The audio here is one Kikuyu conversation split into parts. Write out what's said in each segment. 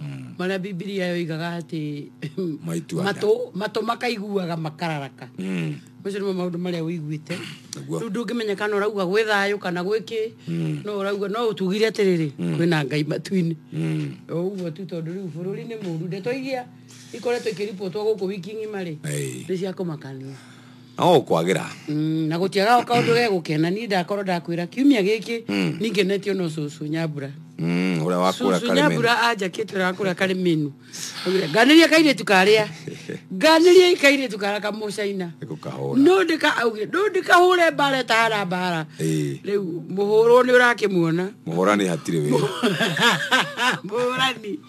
mm. marĩa bibilia yoigaga atĩ matũ matũ makaiguaga makararaka mm. macio nĩmo maũndũ marĩa ũiguĩte rĩu ndũngĩmenya kana ũrauga gwĩ thayũ kana gwĩ kĩ mm. no ũrauga no ũtugire atĩrĩrĩ mm. kwĩna ngai matu-inĩ mm. ũguo tu tondũ rĩu bũrũri nĩ mũru ndeto iria ikoretwo ikĩribotwo gũkũ wiki ng'ima rĩ nĩ cia kũmakania no ũkwagĩra Mm, na gũtiagaga kaũndũ ge gũkena niĩ ndakorwo ndakwĩra kiumia gĩkĩ ningenetio no cũcũ nyambura Mm, ũrĩa wakũra cũcũ karĩmĩra nyambura anjakĩte ũrĩa wakũra karĩ mĩnu nganĩria kairĩtu karĩa nganĩria kairĩtu karĩa kamũcaina gũkahũra no ndĩka augire no ndĩkahũre mbara ĩtahara mbara Ĩĩ. rĩu mũhũrwo nĩ ũrakĩmuona mũhũrani hatirĩ wĩra mũhũrani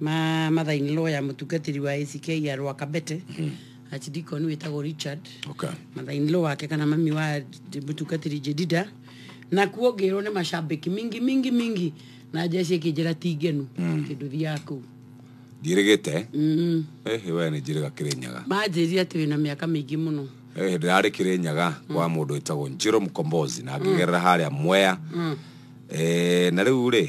ma mother in law ya mutungatiri wa ACK ya Rwakabete archdeacon witagwo Richard Okay. mother in law wake kana mami wa mutungatiri Jedida na kuo ngirwo ni macambiki mingi mingi mingi na njeci ikinjira ti ngenu kindu thiaga kuu Ndirigite. Mm. Eh, we ni njiriga Kirinyaga. manjĩria atĩ wĩna mĩaka mĩingĩ mũno Eh, ndirarĩ Kirinyaga kwa mũndũ wĩtagwo Njiro Mkombozi na ngĩgerera harĩa Mwea. Eh, na rĩu rĩ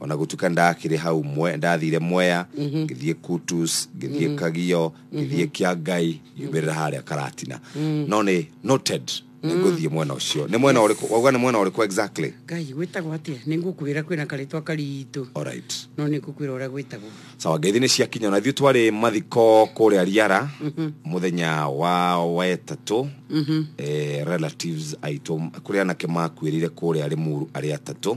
ona gutuka ndakire hau mwe ndathire mwea ngithie kutus ngithie kagio ngithie kia ngai ngiumirira haria karatina no ni noted niguthie mwena ucio ni mwena uriku wauga ni mwena uriku exactly ngai gwĩtagwo atĩa nĩ ngũkwĩra kwĩna karĩtwa karitũ alright no nĩ ngũkwĩra ũrĩa gwĩtagwo sawa ngeithi nä ciakinya na ithuä twarä mathiko kå rä a riara må thenya wa wetatå eh, relatives aitå kå rä anake makuä rä ire kå rä a rä muru arä atatå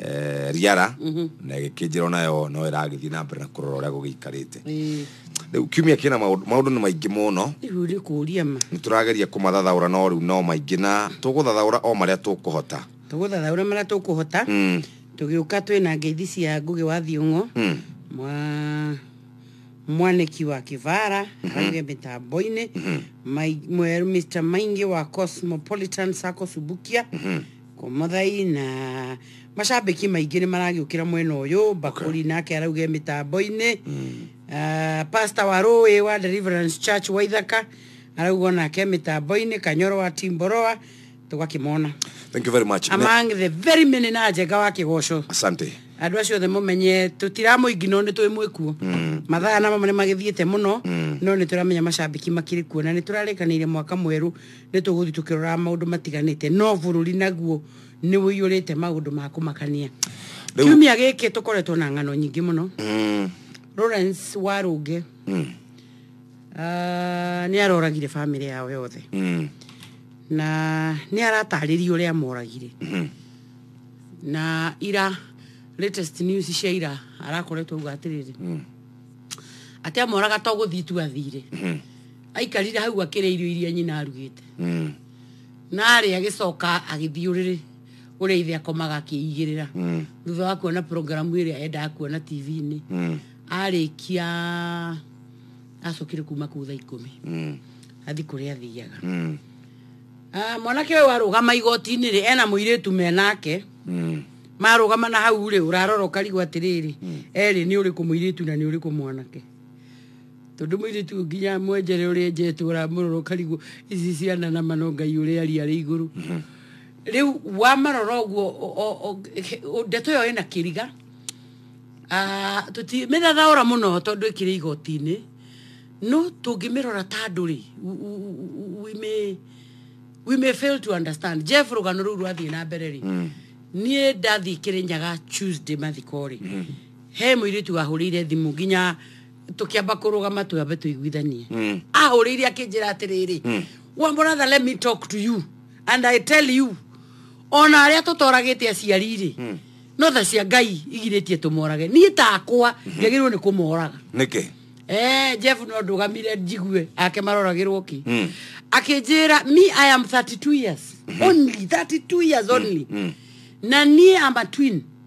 eh, riara mhm. na ĩgĩkĩnjĩra o nayo no ĩragĩthiĩ na mbere na kũrora ũrĩa gũgĩikarĩte rĩu kiumia kĩna maũndũ nĩ maingĩ mũno nĩ tũrageria kũmathathaũra no rĩu no maingĩ na tũgũthathaũra o marĩa tũkũhota tũgũthathaũra marĩa tũkũhota mm. tũgĩũka twĩ na ngeithi cia ngũgĩ wa thiũng'o mm. mwa mwaniki wa kivara mm -hmm. range mitambo-inĩ mm -hmm. mr maingi wa cosmopolitan sacco subukia mm -hmm Kũmũthaina. Macambĩki maingĩ nĩ maragĩũkĩra mwena ũyũ Mbakũri nake arauge mĩtambo-inĩ Ah, Pastor wa Rũĩ wa Deliverance Church wa Ithaka arauga onake mĩtambo-inĩ Kanyoro wa Timboroa tũgakĩmona thank you very much Ne- among the very many na njenga wa kĩgoco asante andå acio othe må menye tå tiramå ingi no nä twä mwä kuo mathaa na mamwe nä magä thiä te må no no nä tå ramenya macambiki makirä kuo na nä tå rarä kanä ire mwaka mwerå Nĩ tũgũthiĩ tũkĩroraga maũndũ matiganĩte, no bũrũri naguo nĩ ũiyũrĩte maũndũ ma kũmakania. Rĩu- Kiumia gĩkĩ tũkoretwo na ng'ano nyingĩ mũno. Mm, Lawrence Warũnge mm, ah, nĩ aroragire bamĩrĩ yao yothe mm, na nĩ aratarĩria ũrĩa amoragire mhm. na ira latest news cia ira arakoretwo uga atĩrĩrĩ atĩ amoraga to gũthiĩ tu athire aikarire hau akĩrĩa irio iria nyina arugĩte Mm. na arĩ agĩcoka agĩthiĩ ũrĩrĩ ũrĩa ithe akomaga akĩigĩrĩra Mm. thutha wa kuona programu ĩrĩa endaga kuona tv-inĩ Mm. arĩkia acokire kuma kuu thaa ikũmi Mm. athi kũrĩa athiaga Mm. Ah, mwanake ũyũ arũgama igoti-inĩ rĩ ena mũirĩtu menake Mm. marũgama na hau rĩ ũrarora ũkarigwo atĩrĩrĩ erĩ nĩ ũrĩkũ mũirĩtu na nĩ ũrĩkũ mwanake Tondu muiritu uyu nginya mwenjere uria enjetwo ramurora ukarigwo ici ciana na mano ngai uria ari ari iguru mhm. riu wamarora uguo ndeto iyo ina kiriga ah, tuti mithathaura muno tondu ikiri igotini no tungimirora ta andu ri we may we may fail to understand jeff rugano riu rwathie na mbere ri mm. nie ndathi kirinyaga tuesday mathiko ri mm. he muiritu wahurire thimu nginya tũkĩamba kũrũgama twambe tũiguithanie Mm. ahũrĩire akĩnjĩra atĩrĩrĩ Mm. wa brother let me talk to you and i tell you ona arĩa tũtoragĩte aciari-rĩ Mm. no tha cia ngai igirĩtie tũmorage niĩ takwa njagĩrĩirwo nĩ kũmoraga nĩkĩ Eh, Jeff no ndũgamire njigue ake maroragĩrwo ki Mm. akĩnjĩra me i am 32 years only 32 years only na niĩ am a twin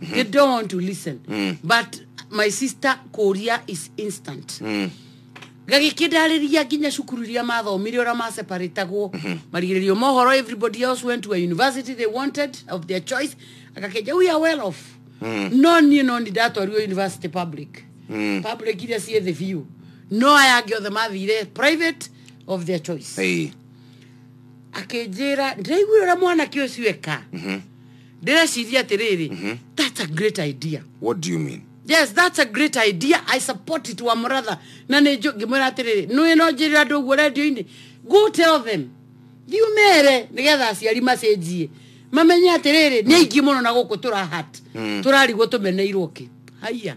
they don't want to listen but my sister kũria is instant gagĩkĩ ndarĩria nginya cukuru iria mathomire ũrĩa maseparatagwo marigĩrĩrio mohoro everybody else went to a university they wanted of their choice agakenja we are well off no niĩ no nĩ ndatwarirwo university public public iria ciĩ thĩ biũ no aya angĩ othe mathire private of their choice Hey. akĩnjĩra ndĩraiguire ũrĩa mwanake ũcio eka ndĩreciria atĩrĩrĩ Mhm. that's a great idea what do you mean yes that's a great idea i support it wa mũratha na nĩ njũ- ngĩmwĩra atĩrĩrĩ nĩ no njĩrĩra andũ ũguo redio-inĩ go tell them thiumere nĩgetha aciari macenjie mamenye atĩrĩrĩ nĩ aingĩ mũno na gũkũ tũrahat tũrarigwo tũmeneirwo kĩ haiya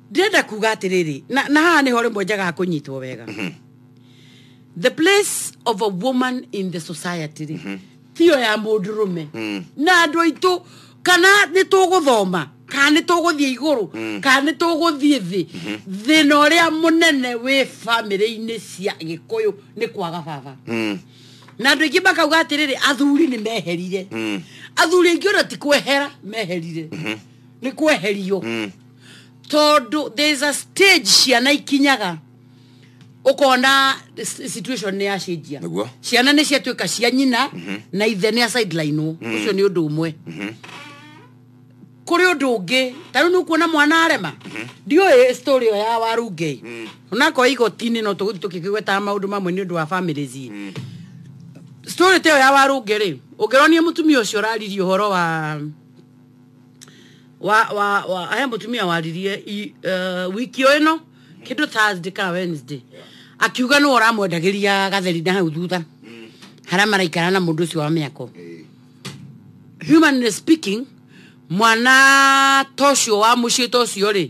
ndĩrenda kuga atĩrĩrĩ na, na haha nĩho rĩmwe njaga kũnyitwo wega the place of a woman in the society rĩ tiyo ya mũndũ rũme na andũ aitũ kana nĩ tũgũthoma kana nĩ tũgũthiĩ igũrũ kana nĩ tũgũthiĩ thĩ thĩna ũrĩa mũnene wĩ bamĩrĩ-inĩ cia gĩkũyũ nĩ kwaga baba na andå aingä makauga atä rä rä athuri nä meherire athuri aingä ona ti kwehera meherire nä kweherio tondu there is a stage ciana ikinyaga ukona s- situation ni yacenjia Nĩguo. ciana ni ciatuika cia nyina na ithe ni asideline ucio ni undu umwe kuri undu ungi ta riu nukuona mwana arema ndioi story iyo ya warungei onako igotini no tuguthi tukikigwetaga maundu mamwe ni undu wa families story ta iyo ya warungi ri ungironie mutumia ucio uraririe uhoro wa wa wa wa he mutumia waririe i- eh, wiki o ino kindu thursday kana wednesday akiuga ni uramwendagiria gatheri na hau thutha haria maraikara na mundu ucio wa miako humanly speaking mwana ta ũcio wa mũciĩ ta ũcio rĩ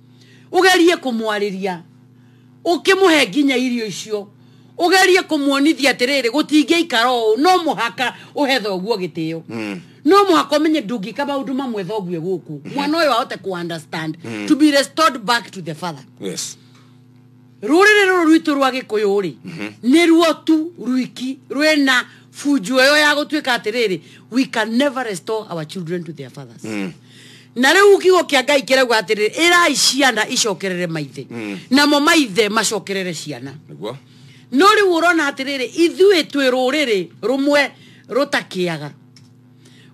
ugerie kumwariria ukimuhe nginya irio icio ugerie kumuonithia atiriri gutingiikara uu no muhaka uhe thoguo gitio mm. no muhaka umenye ndungika maundu mamwe thoguo guku mwana uyu ahote ku understand to be restored back to the father yes ruriri ruru rwitu rwa gikuyu ri mhm. ni ruo tu rwiki rwena funju yo ya gutuika atiriri we can never restore our children to their fathers mm. na riu kiugo kia ngai kirauga atiriri irai ciana icokerere maithe mm. namo maithe macokerere ciana no riu urona atiriri ithui twi ruriri rumwe rutakiaga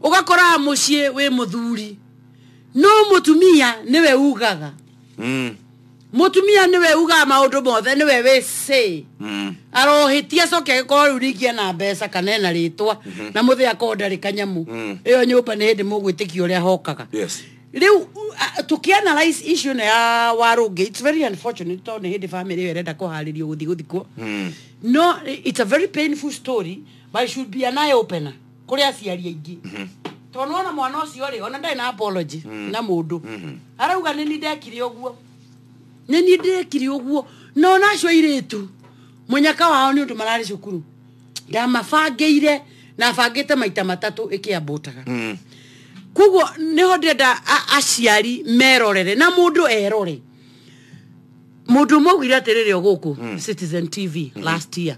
ugakora mucii wi muthuri no mutumia niwe ugaga mm. mũtumia nĩwe ugaga maũndũ mothe nĩwe wĩ say Mm. arohĩtia acoke agĩkorwo rĩu ningĩ ena mbeca kana ena rĩtwa na mũthĩ akorwo ndarĩ kanyamũ Mm. ĩyo nyũmba nĩ hĩndĩ mũgwĩtĩkia ũrĩa hokaga Yes. rĩu u- a- tũkĩanalyze issue ĩno ya warũngĩ it's very unfortunate tondũ nĩ hĩndĩ family ĩyo ĩrenda kũharĩrio gũthiĩ gũthikwo Mm. no it's a very painful story but it should be an eye opener kuri aciari aingi tondu ona mwana ucio ri ona ndari na apology na mundu arauga ni ni ndekire uguo ni ni ndekire uguo no nacio iritu munyaka wao ni undu marari cukuru ndamabangeire na bangite maita matatu ikiambutaga Mm. koguo niho ndenda a- aciari merorere na mundu erore mundu mwaugire atiriri guku citizen tv last year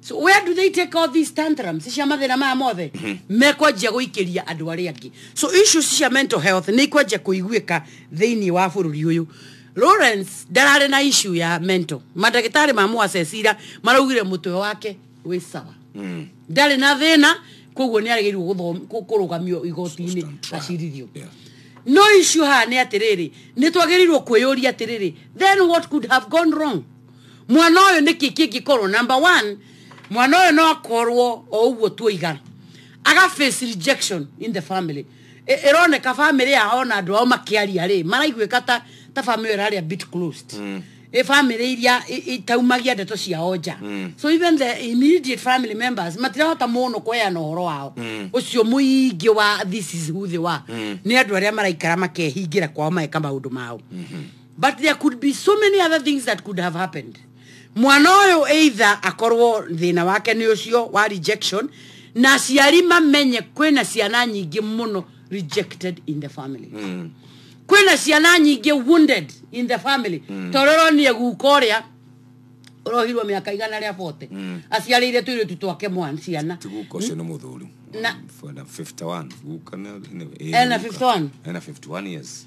So where do they take all these tantrums cia mathĩna maya mothe mekwanjia gũikĩria andũ arĩa angĩ so issues cia mental health nĩ ikwanjia kũiguĩka thĩinĩ wa bũrũri ũyũ lawrence ndararĩ na issue ya mental mandagĩtarĩ ma mũacecira maraugire mũtwe wake wĩ sawa ndarĩ na thĩna koguo nĩ arĩgĩirwo gũthom- kũ- kũrũgamio igoti-inĩ Stand trial. acirithio Yeah. no issue haha nĩ atĩrĩrĩ nĩ twagĩrĩirwo kwĩyũria atĩrĩrĩ then what could have gone wrong mwana ũyũ nĩ kĩ kĩngĩkorwo number one mwana ũyũ no akorwo o ũguo tuoiga aga face rejection in the family Ĩ- ĩroneka family yao na andũ ao makĩaria rĩ maraiguĩka ta ta family ĩrarĩa bit closed mm. ĩ family iria i- itaumagia ndeto ciao nja mm. so even the immediate family members matirahota mũno kweana ũhoro wao mm. ũcio mũingĩ wa this is who they were mm. nĩ andũ arĩa maraikara makehingĩra kwao mageka maũndũ mao mm -hmm. but there could be so many other things that could have happened mwana ũyũ either akorwo thĩna wake nĩ ũcio wa rejection na aciari mamenye kwĩna ciana nyingĩ mũno rejected in the family mm. kwĩna ciana nyingĩ wounded in the family mm. tororoniä guka å rä a å rohirwo mä aka igana rä a bote mm. aciarä ire tå irä tu twake mwan ciana ti guka ũcio nĩ mũthuri Na- Bwana 51 guka nĩ- nĩ- ena 51 ena 51 years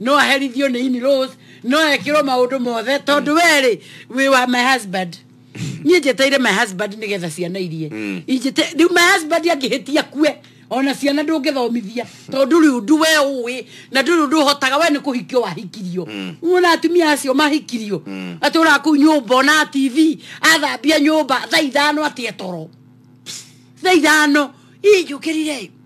no aherithio nĩ in laws no ekĩrwo maũndũ mothe tondũ we rĩ wĩ wa my husband niĩ njeteire my husband nĩ getha ciana irie Injĩte- rĩu my husband angĩhĩtia kue ona ciana ndũngĩthomithia tondũ ndũrĩ ũndũ we ũĩ na ndũrĩ ũndũ ũhotaga we nĩ kũhikio wahikirio wona atumia acio mahikirio atũraga kũu nyũmba ona tv athambia nyũmba thaa ithano atĩa toro thaa ithano ii njũkĩrire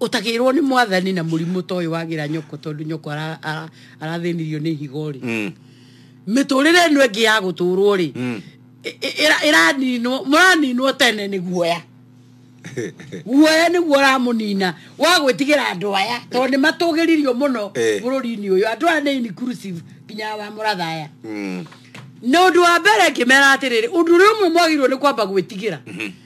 utagirwo ni mwathani na murimu to yu wagira nyoko tondu nyoko ara- ara- arathinirio ni higo ri Mm. miturire ino ingi ya guturwo ri Mm. iraninwo muraninwo tene ni guoya guoya niguo ramunina wa gwitigira andu aya tondu ni matugiririo muno Eh. bururi-ini uyu andu aya ni inclusive nginya wa murathaya Mm. na undu wa mbere ngimera atiriri undu ri umwe mwagirwo ni kwamba gwitigira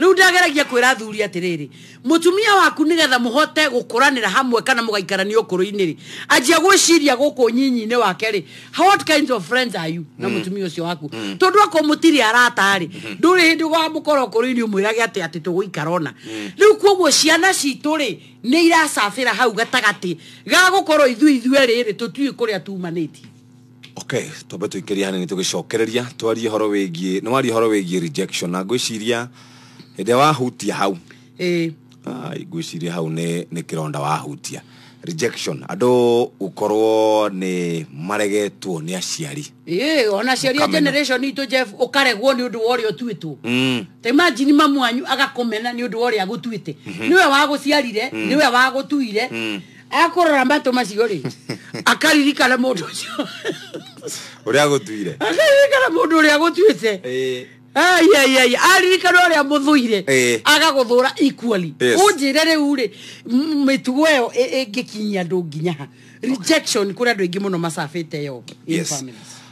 rĩu ndageragia kwĩra athuri atĩrĩrĩ mũtumia waku nĩgetha mũhote gũkũranĩra hamwe kana mũgaikarania ũkũrũ-inĩ rĩ anjia gwĩciria gũkũ nyinyi-inĩ wake rĩ what kinds of friends are you na mũtumia ũcio waku tondũ akorwo mũtirĩ arata rĩ ndũrĩ hĩndĩ ũgamũkora ũkũrũ-inĩ ũmwĩrage atĩ atĩ tũgũikara ona rĩu kuoguo ciana citũ rĩ nĩ iracabĩra hau gatagatĩ ga gũkorwo ithuĩ ithuerĩ rĩ tũtiũĩ kũrĩa tumanĩtie okay twambe tũikĩrie hanini tũgĩcokereria twarie horo wĩgiĩ nĩ waria horo wĩgiĩ rejection na ngwĩciria hĩndĩ ĩrĩa wahutia hau ĩĩ Ai, ngwĩciria hau nĩ nĩ kĩronda wahutia rejection andũ gũkorwo nĩ maregetwo nĩ aciari ĩĩ ona aciari a Ũkamenya. generation itũ jeff ũkaregwo nĩ ũndũ wa ũrĩa ũtuĩtwo mm. ta imagine mamu wanyu agakũmena nĩ ũndũ wa ũrĩa agũtuĩte nĩwe wagũciarire nĩwe wagũtuire akorora mbato macio rĩ akaririkana mũndũ ũcio å rä a gå tuire akaririkana mũndũ ũrĩa gũtuĩte aiaiai aririkana ũrĩa mũthũire Eh. agagũthũra equally Yes. ũnjĩre rĩu rĩ m- mĩtugo ĩyo ĩ- ĩngĩkinyia andũ nginya ha rejection kũrĩ andũ aingĩ mũno macabĩte yo in Yes. families.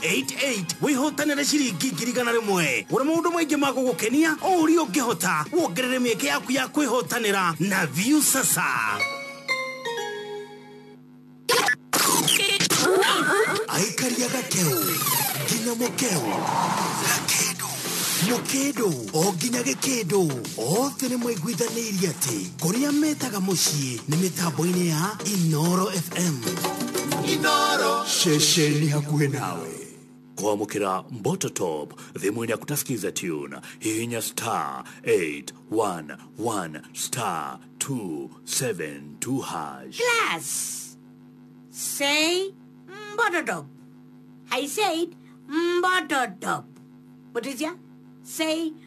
88 wĩhotanĩre ciringi ngiri igana rĩmwe gũra maũndũ maingĩ ma gũgũkenia o ũrĩa ũngĩhota wongerere mĩeke yaku ya kwĩhotanĩra na view sasa aikaria gakeu nginya mũkeu gakĩndũ mũkĩndũ o nginya gĩkĩndũ othe nĩ mwaiguithanĩirie atĩ kũrĩa metaga mũciĩ nĩ mĩtambo-inĩ ya inoro fm inoro ceceni hakuhĩ nawe kwamũkĩra mbototop thimũ-inĩ yaku ta skiza tune hihinya star 811 star 272 hash Class. Say mbotodop. I said mbotodop. Mutizia? Say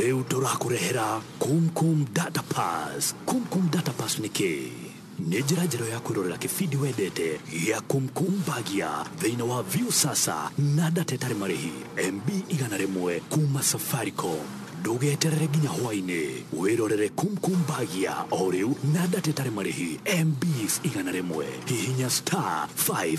rĩu tũrakũrehera kumkum data pass kumkum data pass nĩ kĩ nĩ njĩra njerũ ya kwĩrorera kĩbindi wendete gĩa kumkum bagia thĩinĩ wa view sasa na data ĩtarĩ marĩhi mb igana rĩmwe kuma safaricom ndũgeterere nginya hwainĩ wĩrorere kumkum bagia o rĩu na data ĩtarĩ marĩhi mbs igana rĩmwe hihinya star 5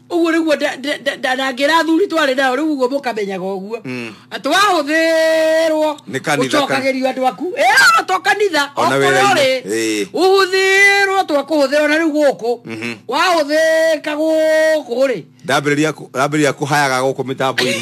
ũguo rĩguo nda- nda- nda- nda- na ngĩra athuri twarĩ nao rĩu ũguo mũkamenyaga ũguo atĩ wahũthĩrwo Nĩ kanitha ka- ũcokagĩrio andå aku ĩo to kanitha O na okorwo wĩra-inĩ. rĩ Ĩĩ. ũhũthĩrwo twa kũhũthĩrwo na rĩu gũkũ wahũthĩka gũkũ rĩ ndambĩrĩria kũ- ndambĩrĩria kũhayaga gũkũ mĩtambo-inĩ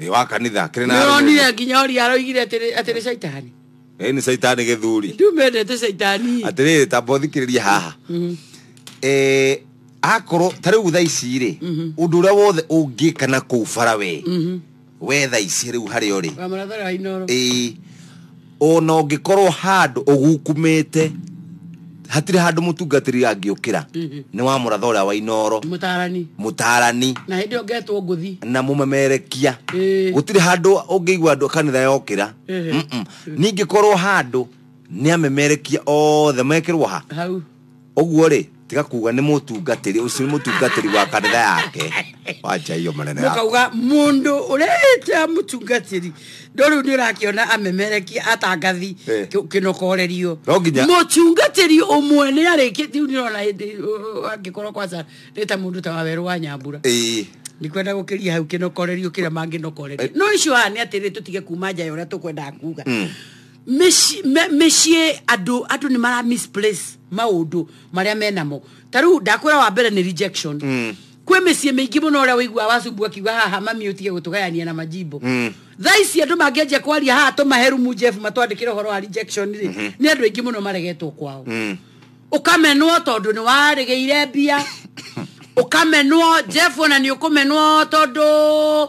Thĩ wa kanitha kĩrĩ na nĩronire nginya ũria aroigire atĩrĩ atĩrĩ caitani ĩĩ nĩ caitani gĩthuri ndumendete caitani atĩrĩrĩ tamba ũthikĩrĩrie haha Eh, akorwo ta rĩu tha ici rĩ ũndũ ũrĩa wothe ũngĩka na kũu bara we we tha ici rĩu harĩa ũrĩ wamũrathara wa inoro ĩĩ ona ũngĩkorwo handũ ũgukumĩte hatirĩ handũ mũtungatĩri angĩũkĩra nĩ wa mũratha ũrĩa wa inoro mũtarani mũtarani na hĩndĩ ĩyo ngetwo ngũthi na mũmemerekia Ĩĩ. gũtirĩ handũ ũngĩigua andũ a kanitha yokĩra Ĩhĩ. Mm-mm. ningĩ korwo handũ nĩ amemerekia othe mekĩrwo ha hau ũguo rĩ tiga kuga nĩ mũtungatĩri ũcio nĩ mũtungatĩri wa kanitha yake wacha hiyo maneno yako mukauga mundu ureta mutungatiri ndo riu ni urakiona amemereki atangathi Eh. ki- kinokorerio No nginya- mutungatiri umwe ni ariki riu ni rona hindi angikorwo kwanza ni ta mundu ta waweru wa nyambura Ĩĩ. ni kwenda gukiria hau kinokorerio kira manginokorerio no icio haha ni atiri tutige kuma nja ya uria tukwendaga kuga mĩciĩ andũ andũ nĩ mara misplace maũndũ marĩa menamo ta rĩu ndakwĩra wa mbere nĩ rejection mm. kwĩ mĩciĩ mĩingĩ mũno ũrĩa wĩigua wacumbu akiuga haha mami ũtige gũtũgayania na majimbo mm. thaa ici andũ mangĩanjia kwaria haha tũmahe rumu jeff matwandĩkĩre ũhoro wa rejection rĩ mm-hmm. nĩ andũ aingĩ mũno maregetwo kwao mm. ũkamenwo tondũ nĩ warĩgĩire mbia ũkamenwo jeff ona nĩ ũkũmenwo tondũ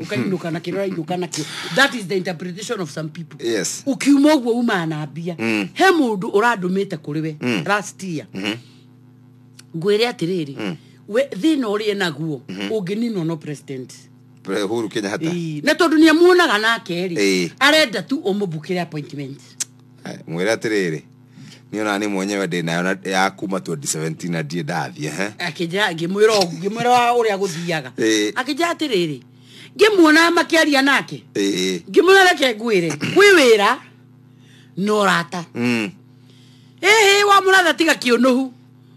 ukainuka na kĩrora inuka nakĩo that is the interpretation of some people Yes. ukiuma ũguo umaa na mbia he mũndũ ũrandũmĩte kũrĩ we last year ngwĩre atĩrĩrĩ we thĩna ũrĩ naguo ũngĩninwo no president Pre- Uhuru Kenyatta Ii, na tondũ nĩ amuonaga nake Ĩĩ. rĩ arenda tu ũmũbukĩre appointment Eh, mwĩre atĩrĩrĩ niä ona nä mwenyewe ndä nayo na- ya kuma 2017 na ndiä ndathiä ehe. akĩnjĩra ngĩmwĩra ũguo, ngĩmwĩra wa ũrĩa gũthiaga Ĩĩ. akĩnjĩra atĩrĩrĩ ngĩmuonaga makĩaria nake Ĩĩ. ngĩmwĩra reke ngwĩre kwĩ wĩra na ũrata Mm. ĩhĩ wa mũratha tiga kĩũnũhu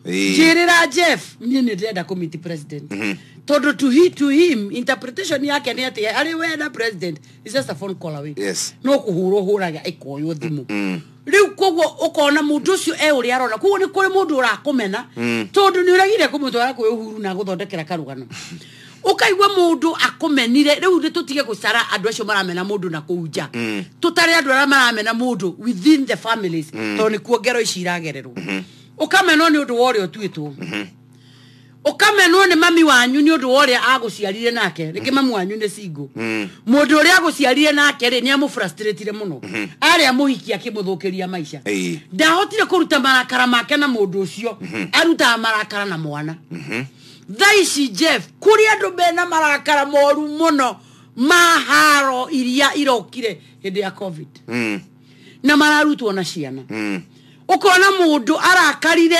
Ĩĩ. njĩrĩra jeff niĩ nĩ ndĩrenda kũmiti president Mhm. tondå to he, to him interpretation yake nä atä arä we na president is just a phone call away Yes. no kå hå rwo hå raga ä koywo thimå Mm. riu koguo ukona mundu ucio e uri arona koguo ni kuri mundu urakumena mm. tondu ni uragire kumutwara kwi uhuru na guthondekera karugano ukaigua mundu akumenire riu ni tutige gucara andu acio maramena mundu na kuu nja mm. tutare andu aria maramena mundu within the families mm. tondu ni kuo ngero ici iragererwo mm-hmm. ukamenwo ni undu wa uria utuitwo mm-hmm. ukamenwo ni mami wanyu ni undu wa uria aguciarire nake ringi mamu wanyu ni single mundu uria aguciarire nake ri ni amufrustratire muno ari amuhikia kimuthukiria maisha Ĩĩ. ndahotire kuruta marakara make na mundu ucio arutaga marakara na mwana thaa ici jeff kuri andu mena marakara moru muno ma haro iria irokire hindi ya covid Mm. na mararutwo na ciana Mm. ukona mundu arakarire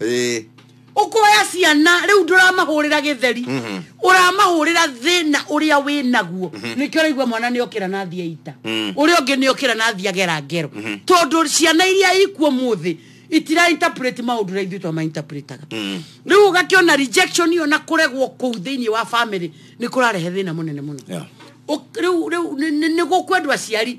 Eh, ukoya ciana riu nduramahurira githeri uramahurira thina uria wi naguo nikio uraigua mwana ni okira na thia ita uria ungi ni okira na thia gera ngero tondu ciana iria ikuo muthi itira interpret maundu ra ithuĩ twama interpretaga riu ugakiona rejection iyo na kuregwo kuu thiini wa family ni kurarehe thina munene muno Yeah. Uk- riu riu ni- ni- ni gukwendwa aciari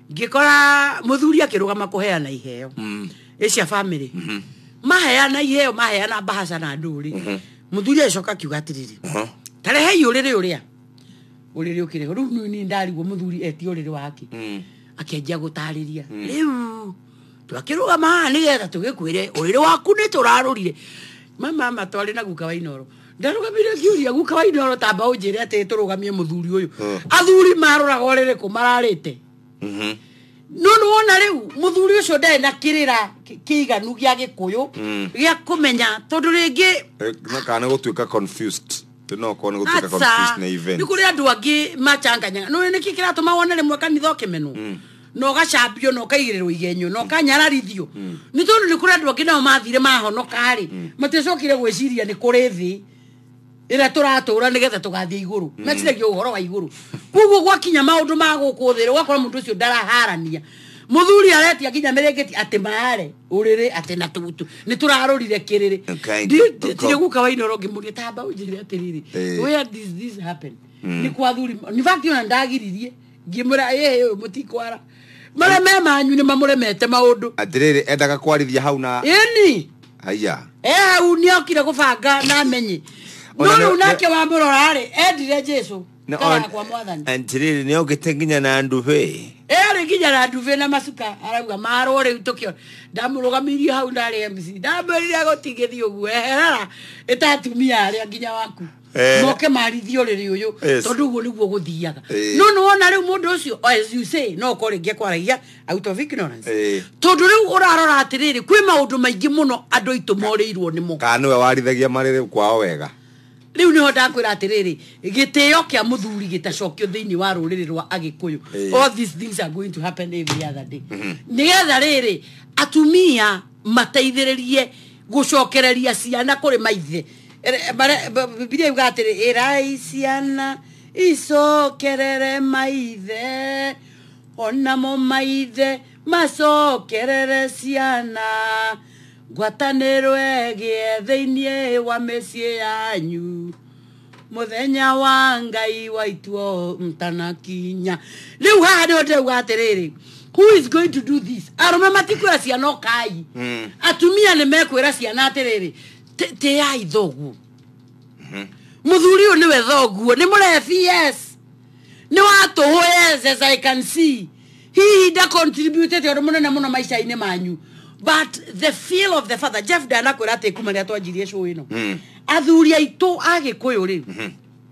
ngĩkora mũthuri akĩrũgama kũheana iheo Mm. ĩ cia bamĩrĩ maheana iheo maheana mbahaca na ndũrĩ mũthuri agĩcoka akiuga atĩrĩrĩ Aha. tarehei ũrĩrĩ ũrĩa ũrĩrĩ ũkĩrĩ ho rĩu ni ndarigwo mũthuri eti ũrĩrĩ wake Mm. akĩanjia gũtarĩria rĩu twakĩrũgama haha nĩgetha tũgĩkwĩre ũrĩrĩ waku nĩ tũrarũrire mama matwarĩ na guka wa inoro ndarũgamire ngiuria guka wa indo arotamba ũnjĩre atĩ tũrũgamie mũthuri ũyũ athuri maroraga ũrĩrĩkũ mararĩte Mhm. no nĩ wona rĩu mũthuri ũcio ndarĩ na kĩrĩra kĩ- kĩiganu gĩa gĩkũyũ Mm. gĩa kũmenya tondũ rĩngĩ Eh, na kana gũtuĩka confused no korwo nĩ gũtuĩka confused na nĩ events kũrĩ andũ angĩ machanganyaga nĩ nĩkĩ kĩratũma wone rĩmwe kanitha ũkĩmenwo na ũgacambio na ũkaigĩrĩrwo igenyo na ũkanyararithio nĩ tondũ nĩ kũrĩ andũ angĩ nao mathire mahonoka-rĩ matiacokire gwĩciria nĩ kũrĩ thĩ ĩrĩa tũratũra nĩgetha tũgathiĩ igũrũ meciragia ũhoro wa igũrũ koguo gwakinya maũndũ ma gũkũ thĩ ũgakora mũndũ ũcio ndaraharania mũthuri aretia nginya mĩrĩngĩti atĩ maare ũrĩrĩ atĩ na tũgutu nĩ tũrarũrire kĩrĩrĩ Okay. ndirĩ guka wainoro ngĩmũria tamba ũnjĩre atĩrĩrĩ Eh. where did this happen nĩ kwa thuri in fact ona ndagiririe ngimwira ĩhĩ ũyũ mũtikwara marĩa me manyu nĩ mamũremete maũndũ atiriri endaga kwarithia hau na ĩni haya e hau nĩ okire gũbanga na amenye no Ona nĩ- rĩu nake wamũrora rĩ endire jesu Na kana on- kwa mwathani atiriri nä ogä te nginya na ndubä erä nginya na nduve na macuka arauga marwo rä u tå kä ndamũrũgamirie hau ndarä mc ndamwärire gå tigä thiä å guo eherara ä ta atumia arä a nginya waku Eh. moke marithio rĩrĩ ũyũ Yes. tondũ ũguo nĩguo gũthiaga Eh. no nĩwona rĩu mũndũ ũcio oh, as you say no ũkorwo rĩngĩ kwaragia out of ignorance Eh. tondũ rĩu ũrarora atĩrĩrĩ kwĩ maũndũ maingĩ mũno andũ aitũ morĩirwo nĩmo kana nĩwe warithagia marĩrĩ kwao wega rĩu nĩho ndakwĩra atĩrĩrĩ gĩtĩo kĩa mũthuri gĩtacokio thĩinĩ wa rũrĩrĩ rwa agĩkũyũ Eh. all these things are going to happen every other day nĩgetha rĩrĩ atumia mateithĩrĩrie gũcokereria ciana kũrĩ maithe Ere- bare- ba- bibilia iga atĩrĩ ĩrai ciana icokerere maithe onamo maithe macokerere ciana ngwatanĩro ĩgĩe thĩinĩ wa mĩciĩ yanyu mũthenya wa ngai waituo mtanakinya rĩu haha nĩho ndĩrauga atĩrĩrĩ who is going to do this arũme matikwĩra ciana ũkai Mm. atumia nĩ mekwĩra ciana atĩrĩrĩ Tĩ- tĩai thoguo mũthuri ũyũ nĩwe thoguo nĩ mũrebi yes nĩ watũhũ yes as i can see hihi ndacontributete ũndũ mũnene mũno maica-inĩ manyu but the feel of the father jeff ndanakwĩra atĩ kuma rĩrĩa twanjirie show ĩno athuri aitũ agĩkũyũ rĩ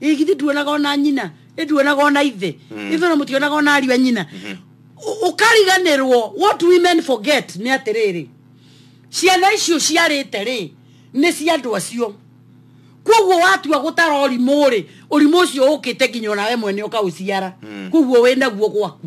ĩ githĩ nduonaga ona nyina ĩ nduonaga ona ithe ithe ona mũtionaga ona ariũ a nyina Ũ- ũkariganĩrwo what women forget nĩ atĩrĩrĩ ciana icio ciarĩte rĩ nĩ cia andũ acio kwoguo watua gũtara ũrimũ rĩ ũrimũ ũcio ũkĩte nginya onawe mwene ũkaũciara kwoguo wĩ naguo gwaku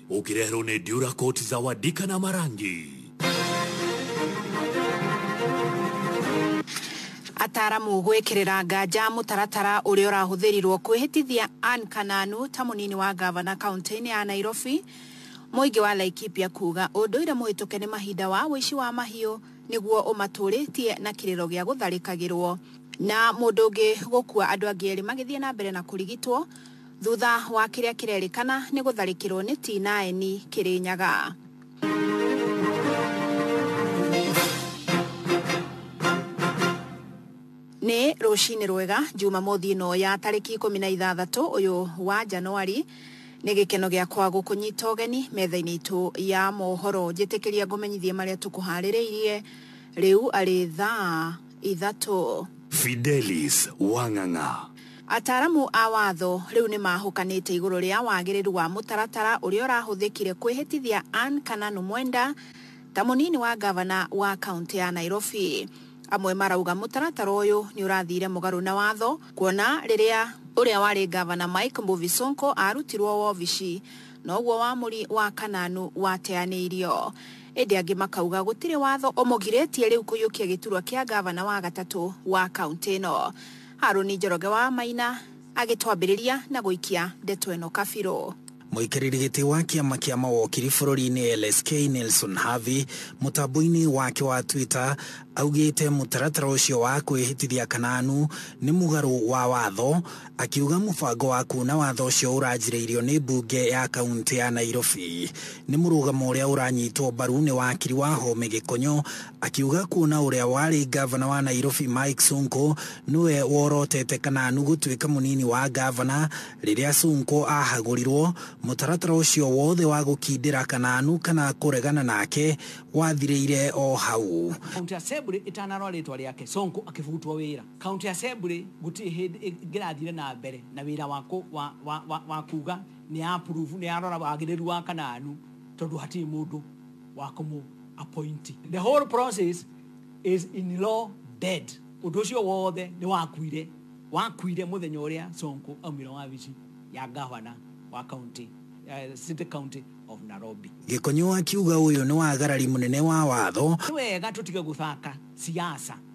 ũkĩreherwo nĩ ndiura koti za wadika na marangi ataaramu gwĩkĩrĩra nganja mũtaratara ũrĩa ũrahũthĩrirwo kwĩhĩtithia Ann Kananu ta mũnini wa gavana kaunti-inĩ ya Nairobi mũingĩ wa Laikipia kuga ũndũire mũhĩtũke nĩ mahinda wa ũici wa mahiũ nĩguo ũmatũrĩtie na kĩrĩro gĩa gũtharĩkagĩrwo na mũndũ ũngĩ gũkua andũ angĩ erĩ magĩthiĩ na mbere na kũrigitwo Thutha wa kĩrĩa kĩrerĩkana nĩ gũtharĩkĩrwo nĩ Tinaeni Kĩrĩnyaga. Nĩ rũcinĩ rwega Jumamothi ĩno ya tarĩki ikũmi na ithathatũ ũyũ wa Januari. Nĩ gĩkeno gĩakwa gũkũnyita ũgeni metha-inĩ itũ ya mohoro. Njĩtĩkĩria ngũmenyithie marĩa tũkũharĩrĩirie rĩu arĩ thaa ithatũ. Fidelis Wang'ang'a. Ataaramu a watho rĩu nĩ mahũkanĩte igũrũ rĩa wagĩrĩru wa mũtaratara ũrĩa ũrahũthĩkire kwĩhĩtithia Ann Kananu Mwenda ta mũnini wa ngavana wa kaũntĩ ya Nairobi. Amwe marauga mũtaratara ũyũ nĩ ũrathire mũgarũ na watho kuona rĩrĩa ũrĩa warĩ ngavana Mike Mbuvi Sonko arutirwo wobici noguo wamũri wa Kananu wateanĩirio. Ĩndĩ angĩ makauga gũtirĩ watho ũmũgirĩtie rĩu kũiyũkia gĩturwa kĩa ngavana wa gatatũ wa kauntĩ ĩno. Harũni Njoroge wa Maina agĩtwambĩrĩria na gũikia ndeto ĩno kabirũ. Mũikarĩri gĩtĩ wa kĩama kĩa mawokiri bũrũri-inĩ LSK Nelson Havi mũtambo-inĩ wake wa Twitter augĩte mũtaratara ũcio wa kwĩhĩtithia Kananu nĩ mũgarũ wa watho Akiuga mũbango wa kuuna watho ũcio ũranjĩrĩirio nĩ mbunge ya kaunti ya Nairobi nĩ mũrũgamo ũrĩa ũranyitwo mbaru nĩ wakiri wa Home Gĩkonyo, akiuga kuona ũrĩa warĩ ngavana wa Nairobi Mike Sonko nĩwe worotete Kananu gũtuĩka mũnini wa ngavana rĩrĩa Sonko ahagũrirwo, mũtaratara ũcio wothe wa gũkindĩra Kananu kana kũregana nake wathirĩire o hau. County Assembly ĩtanarora rĩtwa rĩake, Sonko akĩbutwo wĩra. County Assembly gũtirĩ hĩndĩ ĩngĩrathire na mbere na wĩra wa kũ- wa- wa- wa- wa kuuga nĩ ya approve, nĩ yarora wagĩrĩru wa Kanaanu tondũ hatirĩ mũndũ wa kũmũ appoint. The whole process is in law dead. Ũndũ ũcio wothe nĩ wakuire wakuire mũthenya ũrĩa Sonko aumire wabici ya gavana wa county, eh, city county of Nairobi. Gĩkonyo akiuga ũyũ nĩ wagarari mũnene wa watho nĩ wega tũtige gũthaka siasa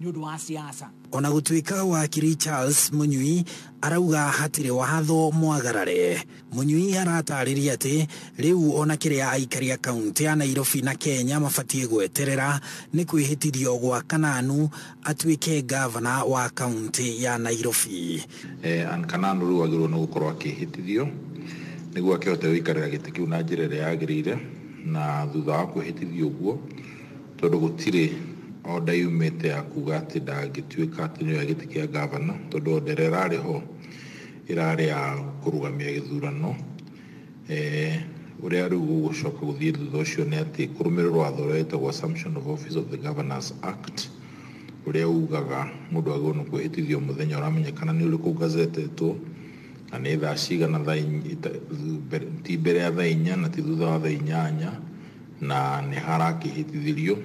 nĩ ũndũ wa siasa. Ona gũtuĩka wakiri Charles Mũnyui arauga hatirĩ watho mwagarare, Mũnyui aratarĩria atĩ rĩu ona kĩrĩa aikari a kaunti ya Nairobi na Kenya mabatiĩ gweterera nĩ kwĩhĩtithio gwa Kananu atuĩke ngavana wa kaunti ya Nairobi. Eh, and Kananu rĩu agĩrĩirwo nĩ gũkorwo akĩhĩtithio nĩguo akĩhote gũikarĩra gĩtĩ kĩu na njĩra ĩrĩa yagĩrĩire, na thutha wa kwĩhĩtithio ũguo tondũ gũtirĩ order yumĩte ya kuga atĩ ndangĩtuĩka atĩ nĩoya gĩtĩ kĩa ngavana tondũ order ĩrĩa ĩrarĩ ho ĩrarĩ ya kũrũgamia gĩthurano eh, ũrĩa rĩu gũgũcoka gũthiĩ thutha ũcio nĩ atĩ kũrũmĩrĩra watho ũrĩa wĩtagwo assumption of office of the governors act ũrĩa ugaga mũndũ agĩrĩirwo nĩ kwĩhĩtithio mũthenya ũramenyekana nĩ ũrĩkũ ngazetetwo na nĩ thaa cigana thaa inya- ita- mbere- ti mbere ya thaa inya na ti thutha wa thaa inyanya na nĩ harakĩhĩtithĩrio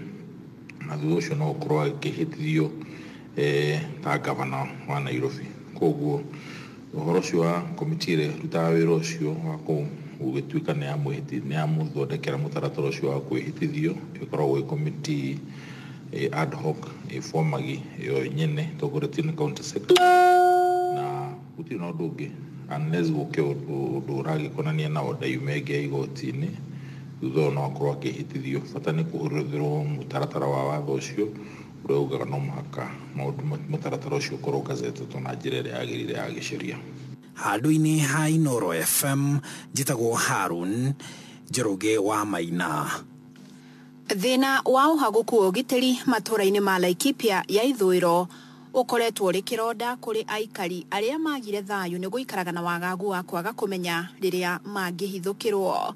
na thutha ũcio no gũkorwo agĩkĩhĩtithio eh, ta gavana wa Nairobi koguo ũhoro ũcio wa komiti ĩrĩa ĩrutaga wĩra ũcio wa kũ- gũgĩtuĩka nĩ yamwĩhĩti- nĩ yamũthondekera mũtaratara ũcio wa kwĩhĩtithio ĩkoragwo ĩ komiti eh, ad hoc ĩbomagi yo nyene ĩtongoretio nĩ county secretary Gũtirĩ na ũndũ ũngĩ unless gũke ũndũ ũndũ ũragĩkonania na order yume ĩngĩ ya igoti-inĩ, thutha ũyũ no akorwo akĩhĩtithio. Bata nĩ kũhũthĩrwo mũtaratara wa watho ũcio ũrĩa ugaga no mũhaka maũndũ ma mũtaratara ũcio ũkorwo gazettetwo na njĩra ĩrĩa yagĩrĩire ya gĩciria. Handũ-inĩ ha Inooro FM, njĩtagwo Harun Njoroge wa Maina. Thĩna wa ũhagũku wa ũgitĩri matũra-inĩ ma Laikipia ya ithũĩro. Ũkoretwo ũrĩ kĩronda kũrĩ aikari arĩa maagire thayũ nĩ gũikaraga na wagagu wa kwaga kũmenya rĩrĩa mangĩhithũkĩrũo.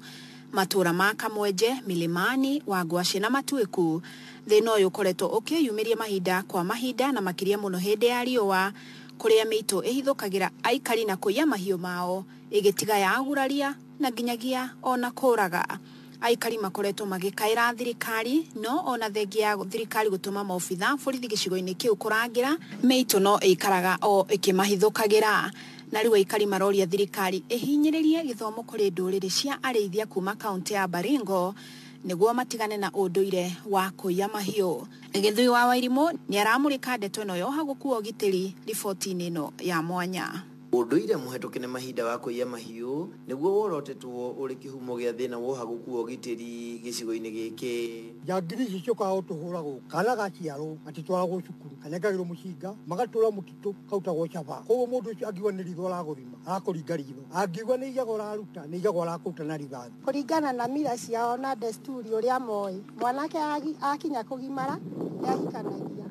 Matũũra ma Kamwenje, Milimani, Wangwashe na Matuĩku, thĩna ũyũ ũkoretwo ũkĩyumĩria mahinda kwa mahinda na makĩria mũno hĩndĩ ya riũa kũrĩa mĩitũ ĩhithũkagĩra aikari na kũiya mahiũ mao, ĩgĩtiga ya aguraria na nginyagia o na kũũraga. Aikari makoretwo magĩkaĩra thirikari no ona thengia ya thirikari gũtũma maobitha borithi gĩcigo-inĩ kĩu kũrangĩra, mĩitũ no ĩikaraga o ĩkĩmahithũkagĩra. Na rĩu aikari maroria thirikari ĩhinyĩrĩrie gĩthomo kũrĩ ndũrĩrĩ cia arĩithia kuma kauntĩ ya Baringo nĩguo matigane na ũndũire wa kũiya mahiũ. Gĩthui wa Wairimũ nĩaramũrĩka ndeto ĩno ya ũhagũku wa ũgitĩri riboti-inĩ ĩno ya mwanya. Ũndũire mũhetũke nĩ mahinda wa kũiya mahiũ nĩguo worotetwo ũrĩ kĩhumo gĩa thĩna wa ũhaguku wa ũgitĩri gĩcigo-inĩ gĩkĩ. Njangiri ici ciokaga gũtũhũra gũkũ kana gaciarwo gatitwaragwo cukuru kanengagĩrwo mũcinga magatũra mũtitũ karutagwo caba kwoguo mũndũ ũcio angiuga nĩ ritho aragũthima arakũringa ritho angiuga nĩ iyaga ũraruta nĩ iyaga ũrakũruta na rithathi. Kũringana na mila ciao na desturi ũrĩa moĩ, mwanake akinya kũgimara nĩahikanagia,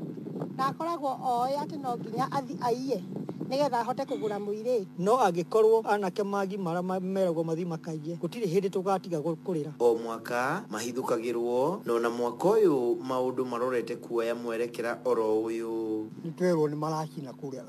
na akoragwo oĩ atĩ no nginya athi aiye nĩgetha ahote kũgũra mũirĩtu. No angĩkorwo anake magimara meragwo mathi makaiye, gũtirĩ hĩndĩ tũgatiga kũrĩra. O mwaka mahithũkagĩrwo, no na mwaka ũyũ maũndũ marorete kuoya mwerekera oro ũyũ. Nĩtwerwo nĩmaracina kũrĩa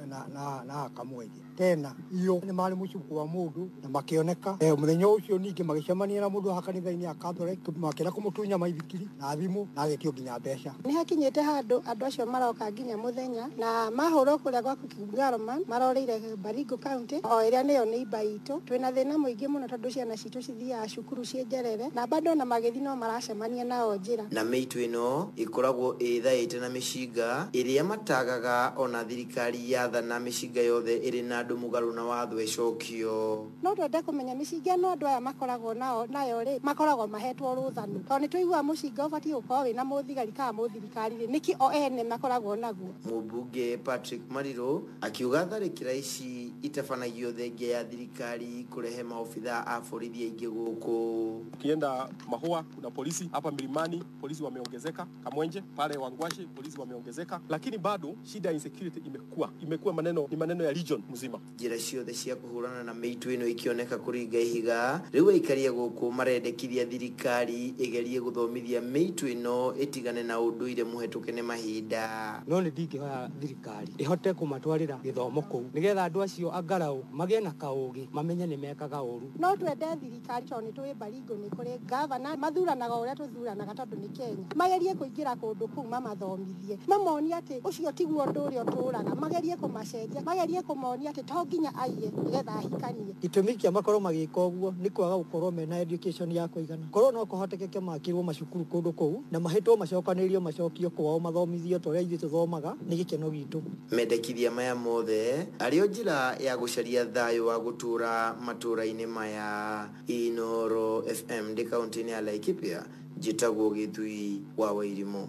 na akamwendia. Tena, iyo nĩ maarĩ mũciĩ kwa mũndũ, na makĩoneka. E, mũthenya ũcio ningĩ magĩcemania na mũndũ wa kanitha-inĩ ya Catholic, makĩenda kũmũtunya maithikiri na thimũ, na agĩtio nginya mbeca. Nĩ hakinyĩte handũ andũ acio maroka nginya mũthenya, na mahũrwo kũrĩa gwaku Kigung'aro man, maroreire Baringo County, o ĩrĩa nĩyo neighbour itũ. Twĩna thĩna mũingĩ mũno tondũ ciana ci. Itũ cithiaga cukuru ciĩ njerere na bado ona magĩthiĩ no maracemania nao njĩra. Na mĩitũ ĩno ĩkoragwo ĩĩthaĩte na mĩcinga ĩrĩa mataagaga ona thirikari yathana mĩcinga yothe ĩrĩ na andũ mũgarũ na watho ĩcokio. No twende kũmenya mĩcinga ĩno andũ aya makoragwo nao nayo rĩ makoragwo mahetwo rũtha nũ? Tondũ nĩtũiguaga mũcinga ũbatiĩ gũkorwo wĩna mũthigari kana mũthirikari rĩ nĩkĩ o ene makoragwo naguo? Mũmbunge Patrick Marirũ Akiuga tharĩkĩra ici itabanagio thengia ya thirikari kũrehe maobithaa a borithi aingĩ gũkũ. Ukienda Mahua kuna polisi, hapa Milimani polisi wameongezeka, Kamwenje pale Wangwashe polisi wameongezeka, lakini bado shida ya insecurity imekuwa imekuwa maneno ni maneno ya region mzima. Njĩra ciothe cia kũhũrana na mĩitũ ĩno ikĩoneka kũringa ihiga, rĩu aikari a gũkũ marendekithia thirikari ĩgerie gũthomithia mĩitũ ĩno ĩtigane na ũndũire mũhetũke nĩ mahinda. No nĩ ndingĩhoya thirikari thirikari ĩhote kũmatwarĩra gĩthomo kũu nĩgetha andũ acio angaraũ magĩe na kaũgĩ mamenye nĩ mekaga ũru. No twende thirikari tondũ nĩ tũĩ Baringo nĩ kũrĩ ngavana, mathuranaga o ũrĩa tũthuranaga tondũ nĩ Kenya. Magerie kũingĩra kũndũ kũu mamathomithie, mamonie atĩ ũcio tiguo ũndũ ũrĩa ũtũraga, magerie kũmacenjia, magerie kũmonia atĩ to nginya aiye nĩgetha ahikanie. Gĩtũmi kĩa makorwo magĩka ũguo nĩ kwaga gũkorwo mena education ya kũigana. Korũo no kũhotekeke makĩrũo macukuru kũndũ kũu na mahĩtwo macokanĩrĩrio macokio kwao mathomithio ta ũrĩa ithuĩ tũthomaga, nĩ gĩkeno gitũ. Mendekithia maya mothe arĩo njĩra ya gũcaria thayũ wa gũtũũra matũũra-inĩ maya. Inooro FM ndĩ kaũntĩ-inĩ ya Laikipia, njĩtagwo Gĩthui wa Wairimũ.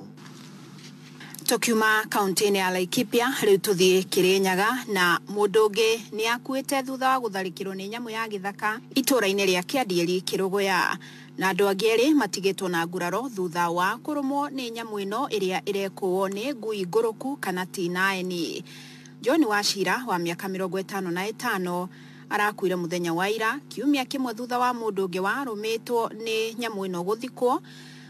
Tũkiuma kaunti-inĩ ya Laikipia rĩu tũthiĩ Kĩrĩnyaga na mũndũ ũngĩ nĩ akuĩte thutha wa gũtharĩkĩrwo nĩ nyamũ ya gĩthaka itũra-inĩ rĩa Kĩandieri Kĩrũgũya na andũ angĩ erĩ matigĩtwo na nguraro thutha wa kũrũmwo nĩ nyamũ ĩno ĩrĩa ĩrekũwo nĩ ngui ngũrũku kana tinaeni. John Wachira wa mĩaka mĩrongo ĩtano na ĩtano arakuire mũthenya wa ira kiumia kĩmwe thutha wa mũndũ ũngĩ warũmĩtwo nĩ nyamũ ĩno gũthikwo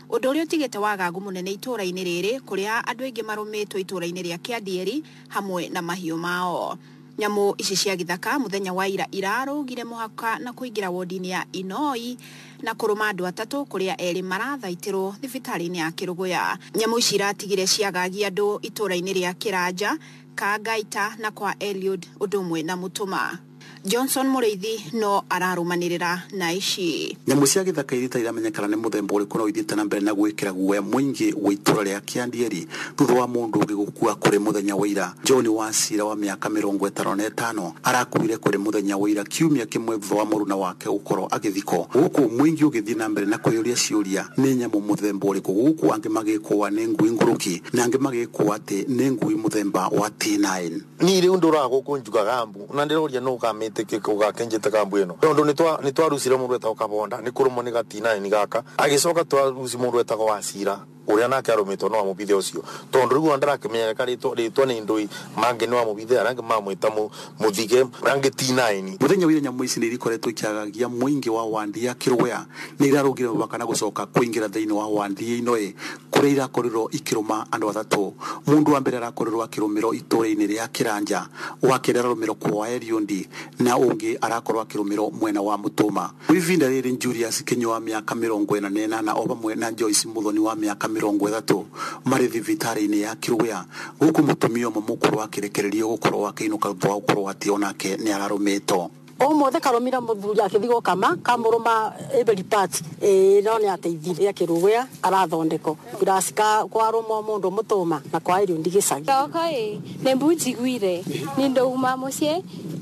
Ũndũ ũrĩa ũtigĩte wagagu mũnene itũũra-inĩ rĩrĩ kũrĩa andũ aingĩ marũmĩtwo itũũra-inĩ rĩa Kĩandieri hamwe na mahiũ mao. Nyamũ ici cia gĩthaka mũthenya wa ira irarũgire mũhaka na kũingĩra wondi-inĩ ya Inoi na kũrũma andũ atatũ kũrĩa erĩ marathaitĩrwo thibitarĩ-inĩ ya Kĩrũgũya. Nyamũ ici iratigire ciagagia andũ itũũra-inĩ rĩa Kĩranja, Kangaita na kwa Eliud ũndũ ũmwe na Mũtũma. Johnson Mũrĩithi no ararũmanĩrĩra na ici. Nyamũ cia gĩthaka iria itarĩ iramenyekana nĩ mũthemba ũrĩkũ no ithiĩte na mbere na gwĩkĩra guoya mũingĩ wa itũra rĩa Kĩandieri thutha wa mũndũ ũngĩ gũkua kũrĩ mũthenya wa ira. John Wachira wa mĩaka mĩrongo ĩtano na ĩtano arakuire kũrĩ mũthenya wa ira kiumia kĩmwe thutha wa mũruna wake gũkorwo agĩthikwo. Gũkũ mũingĩ ũgĩthiĩ na mbere na kwĩyũria ciũria, nĩ nyamũ mũthemba ũrĩkũ gũkũ angĩ magĩkũa nĩ ngui ngũrũki na angĩ magĩkũa atĩ nĩ ngui mũthemba wa T9. Niĩ rĩu ndũraga gũkũ njugaga mbu na ndĩroria nũ ũkamĩtĩkĩka ũgakenjĩtĩka mbu ĩno tondũ nĩtwa- nĩtwarucire mũndũ wetagwo kabonda nĩ kũrũmwo nĩ gatinaĩni gaka agĩcoka twaruci mũndũ wetagwo wacira ũrĩa nake arũmĩtwo nĩ wa mũbithe ũcio tondũ rĩu ona ndarakĩmenyaga ka rĩtwa rĩtwa nĩ ndũi mangĩ nĩ wa mũbithe arĩa angĩ mamwĩta mũ- mũthige arĩa angĩ tinaĩni Mũthenya wa ira nyamũ ici nĩ irikoretwo ikĩagagia mũingĩ wa wadi ya Kĩrũgũya nĩ irarũngire mũbaka na gũcoka kũingĩra thĩinĩ wa wadi ĩno ĩ kũrĩa irakorirwo ikĩrũma andũ athatũ. Mũndũ wa mbere arakorirwo akĩrũmĩrwo itũũra-inĩ rĩa Kĩranja, wa kerĩ ararũmĩrwo Kwaeriundi na ũngĩ arakorwo akĩrũmĩrwo mwena wa Mũtũũma. Kwa ivinda rĩrĩ Njuliasi Kĩnyua wa mĩaka mĩrongo ĩna na ĩnana o vamwe na Joyce Mũthoni wa mĩaka mĩrongo ĩthatũ marĩ thivitarĩ-inĩ ya Kilwea gũkũ mũtumia ũmwe mũkũrũ akĩrekererio gũkorwo akĩinũka thutha wa gũkorwo atĩ o nake nĩararũmĩtwo. omothe karomira muthuri akithi gukama kamuruma every part eh no ni ateithire akirugwea arathondeko kurasi ka kwaruma mundu mutuma na kwa irio ndigicagi Thoko ĩ nĩ mbu njiguire nĩ ndauma mũciĩ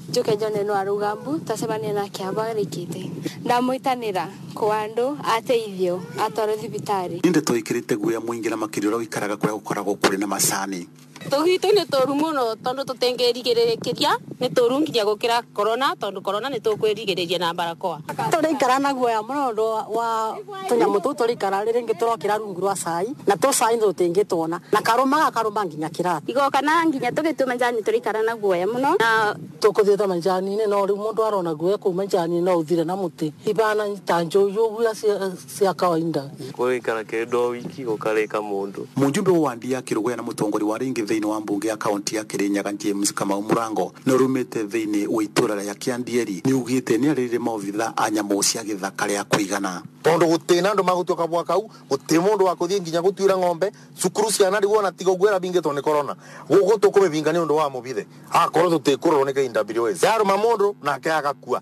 njũke njone no arauga mbu tacemania nake abo arĩkĩte ndamwĩtanĩra kwa andũ ateithio atwarwo thibitarĩ Nĩ ndeto ĩkĩrĩte guoya mũingĩ na makĩria ũrĩa ũikaraga kũrĩa gũkoragwo kũrĩ na macani. Tũgitũ nĩ tũru mũno tondũ tũtingĩrigĩrĩria nĩ tũru nginya gũkĩra korona tondũ korona nĩ tũkwĩrigĩrĩria na barakoa. Tũraikara na guoya mũno nĩ ũndũ wa tũnyamũ tũu tũraikara rĩngĩ tũrokĩra rungu rwa cai na tũ cai tũtingĩtwona na karũma gakarũma nginya kĩrato. Igoka na nginya tũgĩtua majani tũraikara na guoya mũno na. Tũkũthiĩte majani-inĩ no rĩu mũndũ arona guoya kũu majani-inĩ no ũthire na mũtĩ. Ibana ta njũi ũguo. cia kawaida. Gũgĩikara kĩndũ o wiki gũkarĩka mũndũ. Mũjumbe wa wandi ya Kĩrũgũya na mũtongori wa rĩngĩ thĩinĩ wa mbunge ya kaunti ya Kĩrĩnyaga James Kamau Mũrango na ũrũmĩte thĩinĩ wa itũra rĩa Kĩandieri nĩugĩte nĩarĩrire maobitha a nyamũ cia gĩthaka rĩa kũigana. Tondũ gũtĩ na andũ magũtua kabũa kau, gũtĩ mũndũ wakũthiĩ nginya gũtuĩra ng'ombe, cukuru ciana rĩu ona tiga ũguo ĩrabingĩtwo nĩ korona. Gũkũ tũkũmĩbinga nĩ ũndũ wa mũbithe. Akorwo tũtikũrorwo nĩ KWS yarũma mũndũ nake agakua.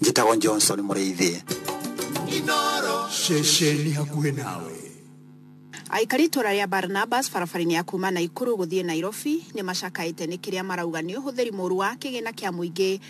njĩtagwo johnson mũrĩithi ceceni hakuhĩ nawe Aikari itũra rĩa Barnabas barabara-inĩ ya kuma Naikuru gũthiĩ Nairobi nĩ macakaĩte nĩ kĩrĩa marauga nĩ ũhũthĩri mũru wa kĩgĩna kĩa mũingĩ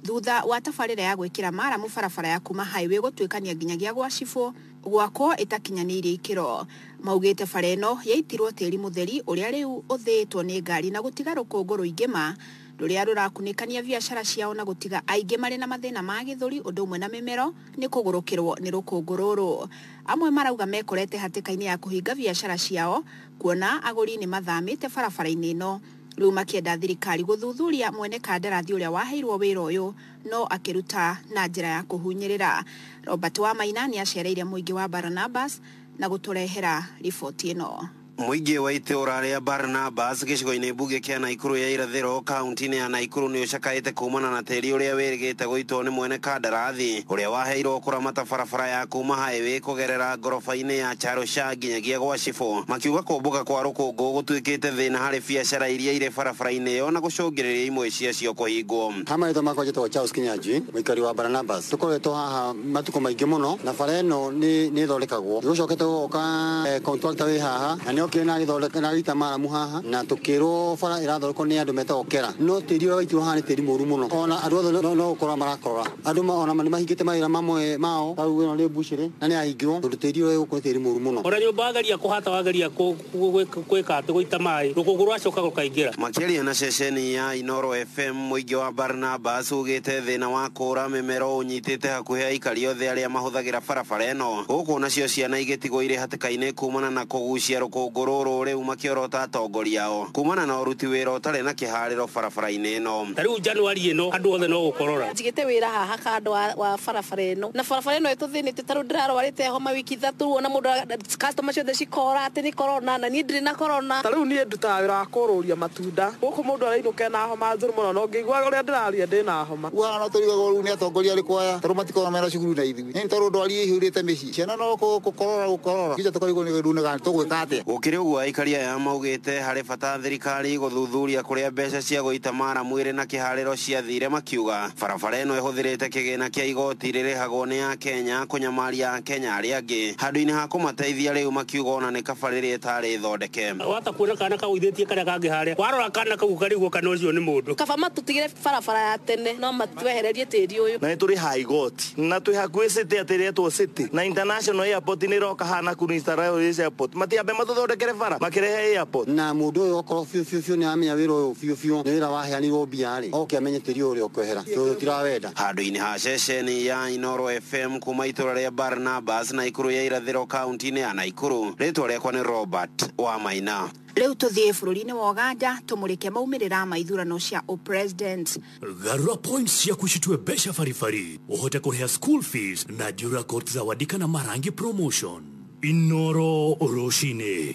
thutha wa tabarĩra ya gwĩkĩra maramu barabara ya kuma highway gũtuĩkania nginyagia gwa cibũ gwakwo ĩtakinyanĩirie ikĩro. Maugĩte bara ĩno yaitirwo tĩri mũtheri ũrĩa rĩu ũthĩĩtwo nĩ ngari na gũtiga rũkũngũ rũingĩ ma rũrĩa rũrakunĩkania biacara ciao na gũtiga aingĩ marĩ na mathĩna ma gĩthũri ũndũ ũmwe na mĩmero nĩ kũgũrũkĩrwo nĩ rũkũngũ rũrũ. Amwe marauga mekorete hatĩka-inĩ ya kũhinga biacara ciao kuona agũri nĩ mathamĩte barabara-inĩ ĩno rĩu makĩenda thirikari gũthuthuria mwene kandarathi ũrĩa waheirwo wĩra ũyũ no akĩruta na njĩra ya kũhunyĩrĩra. Robert Wamaina nĩ acereire mũingĩ wa Barnabas na gũtũrehera riboti ĩno. Mũingĩ wa itũũra rĩa Barnabas gĩcigo-inĩ mbunge kĩa Naikuru ya irathĩro kaunti-inĩ ya Naikuru nĩ ũcakaĩte kumana na tĩri ũrĩa wĩrĩgĩte gũitwo nĩ mwene kandarathi ũrĩa waheirwo kũramata barabara ya kuma highway kũgerera ngoroba-inĩ ya Charusha nginyagia gwa cibũ makiuga kũmbũka kwa rũkũngũ gũtuĩkĩte thĩna harĩ biacara iria irĩ barabara-inĩ ĩyo na gũcũngĩrĩria imwe ciacio kũhingwo. ha marĩtwa makwa njĩtagwo charles kinyanjui mũikari wa baranabas tũkoretwo haha matukũ maingĩ mũno na bara ĩno nĩ nĩ ĩthondekagwo nĩgũcokete gũgoka eh, contractor wĩ haha na nĩ okire na agĩthondeka na agĩita maramu haha na tũkĩrwo bara ĩrathondekwo nĩ andũ metagwo kera no tĩri ũrĩa waitirwo haha nĩ tĩri mũru mũno ona andũ othe no- no gũkorora marakorora andũ ma- ona nĩ mahingĩte mawĩra mamwe mao rĩu ĩno nĩ mbucĩrĩ na nĩ yahingirwo tondũ tĩri ũrĩa gũkũ nĩ tĩri mũru mũno ona nyũmba wageria kũhata wageria kũ Guo gwĩ- gwĩka atĩ gũita maĩ rũkũngũ rwacoka rũkaingĩra Makĩaria na ceceni ya Inoro FM, mũingĩ wa Barnabas ugĩte thĩna wa kũũra mĩmero ũnyitĩte hakuhĩ aikari othe arĩa mahũthagĩra barabara ĩno, gũkũ nacio ciana igĩtigwo irĩ hatĩka-inĩ kumana na kũgucia rũkũngũ rũrũ, rĩu makĩorota atongoria ao kumana na ũruti wĩra ũtarĩ na kĩharĩro barabara-inĩ ĩno. Ta rĩu Januari ĩno andũ othe no gũkorora. njigĩte wĩra haha kando wa, wa barabara ĩno na barabara ĩno ĩtũthĩnĩte tarĩu ndĩrarwarĩte homa wiki ithatũ ona mũndũ ara- Customer ciothe cikoora atĩ nĩ corona na niĩ ndirĩ na corona. Ta rĩu niĩ ndutaga wĩra wa kũrũria matunda. Gũkũ mũndũ arainũka ena homa njũru mũno na ũngĩigua ũrĩa ndĩraria ndĩna homa. Rĩu haha no tũrigagwo rĩu nĩ atongoria arĩkũ aya tondũ matikoragwo mena cukuru na ithuĩ. Nĩ tondũ ndwari ĩihũrĩte mĩciĩ. Ciana no gũkorora gũkorora. Kĩnja tũkarigwo nĩ kĩndũ nĩga tũgwĩka atĩa. Gũkĩrĩ ũguo aikari aya maugĩte harĩ bata thirikari gũthuthuria kũrĩa mbeca cia gũita maramu ĩrĩ na kĩharĩro ciathire makiuga barabara ĩno ĩhũthĩrĩte kĩgĩna kĩa igoti rĩrĩhagwo nĩ akenya kũnyamaria Kenya arĩa angĩ. Handũ-inĩ ha kũmateithia rĩu makiuga ona nĩ kaba rĩrĩ ĩtarĩ thondeke. Wahota kuona kana kagũithĩtie karĩa kangĩ harĩa. Warora kana kau ũkarigwo kana ũcio nĩ mũndũ. Kaba matũtigĩre barabara ya tene no matwehererie tĩri ũyũ. Na nĩ tũrĩ ha igoti. Na twĩ hakuhĩ city atĩ ĩretwo city. Na international airport nĩ ĩroka haha Nakuru international airport. Matiambe matũthondekere bara makĩrehe airport. Na mũndũ ũyũ okorwo biũ biũ biũ nĩ aramenya wĩra ũyũ biũ biũ nĩ wĩra waheanirwo mbia rĩ, oke amenye tĩri ũyũ ũrĩa ũkwehera tondũ tũtirawenda. Handũ-inĩ ha ceceni ya Inooro FM kuma itũra rĩa Barnabas Naikuru ya irathĩro kaunti-inĩ ya Naikuru, rĩtwa rĩakwa nĩ Robert wa Maina. Rĩu tũthiĩ bũrũri-inĩ wa Ũganda tũmũrĩke maumĩrĩra ma ithurano cia ũpresident. Garũra points ciaku citue mbeca baribari ũhote kũrĩha school fees na Dura Court Zawadi kana Marangi Promotion. Inooro Rũcinĩ.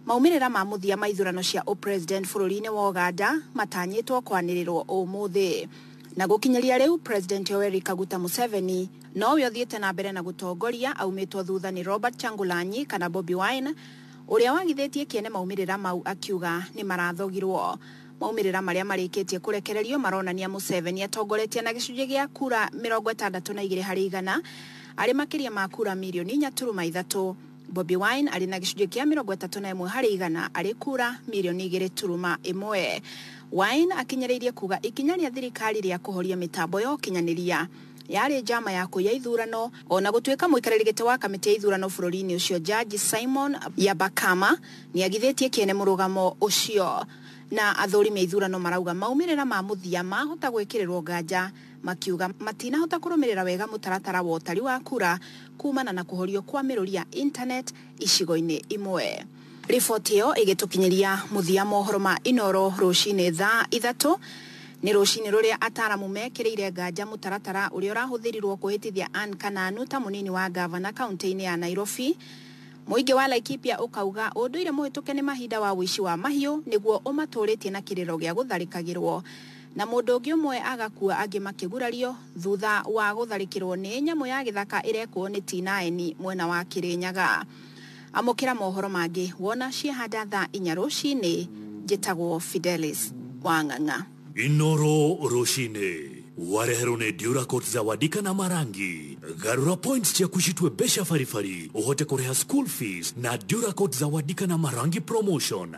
Maumĩrĩra ma mũthia ma ithurano cia ũpresident bũrũri-inĩ wa Ũganda matanyĩtwo kwanĩrĩrwo ũmũthĩ. Na gũkinyĩria rĩu President Yoweri Kaguta Museveni nowe ũthiĩte na mbere na gũtongoria aumĩtwo thutha nĩ Robert Kyangulanyi kana Bobi Wine ũrĩa wagithĩtie kĩene maumĩrĩra mau akiuga nĩmarathogirwo. Maumĩrĩra marĩa marĩkĩtie kũrekererio maronania Museveni atongoretie na gĩcunjĩ gĩa kura mĩrongo ĩtandatũ na igĩrĩ harĩ igana arĩ makĩria ma kura mirioni inya turuma ithatũ. Bobi Wine arĩ na gĩcunjĩ kĩa mĩrongo ĩtatũ na ĩmwe harĩ igana arĩ kura mirioni igĩrĩ turuma ĩmwe. Wine akinyĩrĩirie kuga ikinya rĩa thirikari rĩa kũhoria mĩtambo ya ũkinyanĩria yarĩ njama ya kũiya ithurano, o na gũtuĩka mũikarĩri gĩtĩ wa kamĩtĩ ya ithurano bũrũri-inĩ ũcio Jaji Simon Byabakama nĩagithĩtie kĩene mũrũgamo ũcio. Na athũrimi a ithurano marauga maumĩrĩra ma mũthia mahota gwĩkĩrĩrwo nganja. makiuga matinahota kũrũmĩrĩra wega mũtaratara wa ũtari wa kura kumana na kũhorio kwa mĩrũri ya intaneti icigo-inĩ imwe. Riboti ĩyo ĩgĩtũkinyĩria mũthia mohoro ma Inooro rũcinĩ thaa ithatũ. Nĩ rũcinĩ rũrĩa ataaramu mekĩrĩire nganja mũtaratara ũrĩa ũrahũthĩrirwo kũhĩtithia Ann Kananu ta mũnini wa ngavana kaunti-inĩ ya Nairobi. Mũingĩ wa Laikipia ũkauga ũndũire mũhĩtũke nĩ mahinda wa ũici wa mahiũ nĩguo ũmatũrĩtie na kĩrĩro gĩa gũtharĩkagĩrwo. na mũndũ ũngĩ ũmwe agakua angĩ makĩgurario thutha wa gũtharĩkĩrwo nĩ nyamũ ya gĩthaka ĩrekwo nĩ T9 mwena wa Kĩrĩnyaga. Amũkĩra mohoro mangĩ wona ciahanda thaa inya rũcinĩ. Njĩtagwo Fidelis Wang'ang'a. Inooro rũcinĩ wareherwo nĩ Duracoat Zawadi kana Marangi. Garũra points ciaku citue mbeca baribari ũhote kũrĩha school fees na Duracoat Zawadi kana Marangi promotion.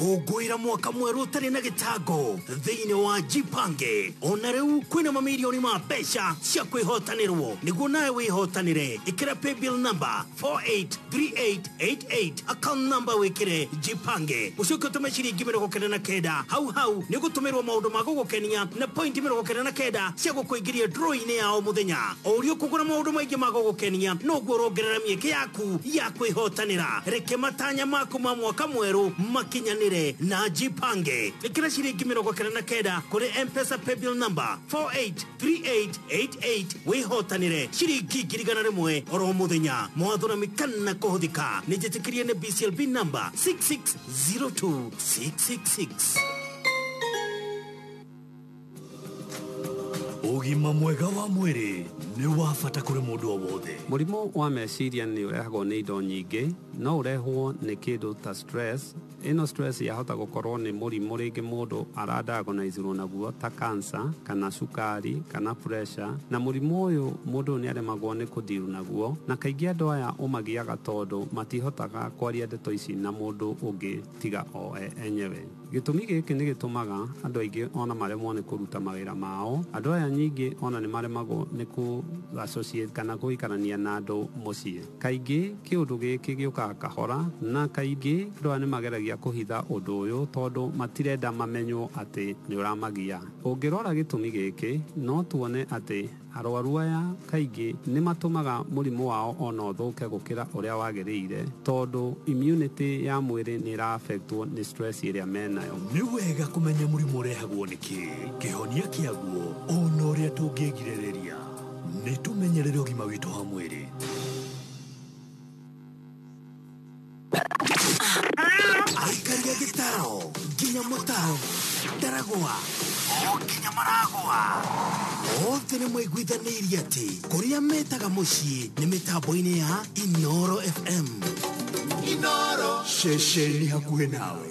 kũngũĩra mwaka mwerũ ũtarĩ na gĩtango thĩinĩ wa jipange ona rĩu kwĩna mamirioni ma mbeca cia kwĩhotanĩrwo nĩguo nawe wĩhotanĩre ĩkĩra paybill number 483888 account number wĩkĩre jipange ũcoke ũtũme ciringi mĩrongo kenda na kenda hau hau nĩ gũtũmĩrwo maũndũ ma gũgũkenia na pointi mĩrongo kenda na kenda cia gũkũingĩria ndũrũ-inĩ ya o mũthenya o ũrĩa ũkũgũra maũndũ maingĩ ma gũgũkenia noguo ũrongerera mĩeke yaku yaku ya kwĩhotanĩra reke matanya maku ma mwaka mwerũ makinyanĩre na jipange ĩkĩra ciringi mĩrongo kenda na kenda kũrĩ mpesa paybill number 483888 wĩhotanĩre ciringi ngiri igana rĩmwe oro mũthenya mawatho na mĩkana kũhũthĩka nĩ njĩtĩkĩrie nĩ bclb number 6602666 Ũgima mwega wa mwĩrĩ nĩ wa bata kũrĩ mũndũ o wothe. Mũrimũ wa meciria nĩ ũrehagwo nĩ indo nyingĩ. No ũrehwo nĩ kĩndũ ta stress. Ĩno stress yahota gũkorwo nĩ mũrimũ rĩngĩ mũndũ ara diagonize rwo naguo ta cancer, kana cukari, kana pressure. Na mũrimũ ũyũ mũndũ nĩ aremagwo nĩ kũ deal naguo. Na kaingĩ andũ aya ũmagiaga tondũ matihotaga kwaria ndeto ici na mũndũ ũngĩ tiga o enyewe. Gĩtũmi gĩkĩ nĩ gĩtũmaga andũ aingĩ o na maremwo nĩ kũruta mawĩra mao. Andũ aya nyingĩ o na nĩ maremagwo nĩ kũ associate kana gũikarania na andũ mũciĩ. Kaingĩ kĩũndũ gĩkĩ gĩũkaga kahora, na kaingĩ andũ aya nĩ mageragia kũhitha ũndũ ũyũ tondũ matirenda mamenywo atĩ nĩ ũramagia. Ũngĩrora gĩtũmi gĩkĩ, no tuone atĩ. Arwaru aya kaingĩ nĩ matũmaga mũrimũ wao o na ũthũke gũkĩra ũrĩa wagĩrĩire tondũ immunity ya mwĩrĩ nĩ ĩra affectwo nĩ stress ĩrĩa me nayo. Nĩ wega kũmenya mũrimũ ũrehagwo nĩ kĩ, kĩhonia kĩaguo, o na ũrĩa tũngĩĩgirĩrĩria. Nĩ tũmenyerere ũgima witũ wa mwĩrĩ. aikaria gĩtaro nginya mũtaro ndaragwa o nginya maragwa othe nĩ maiguithanĩirie atĩ kũrĩa metaga mũciĩ nĩ mĩtambo-inĩ ya inoro fm inoro ceceni hakuhĩ nawe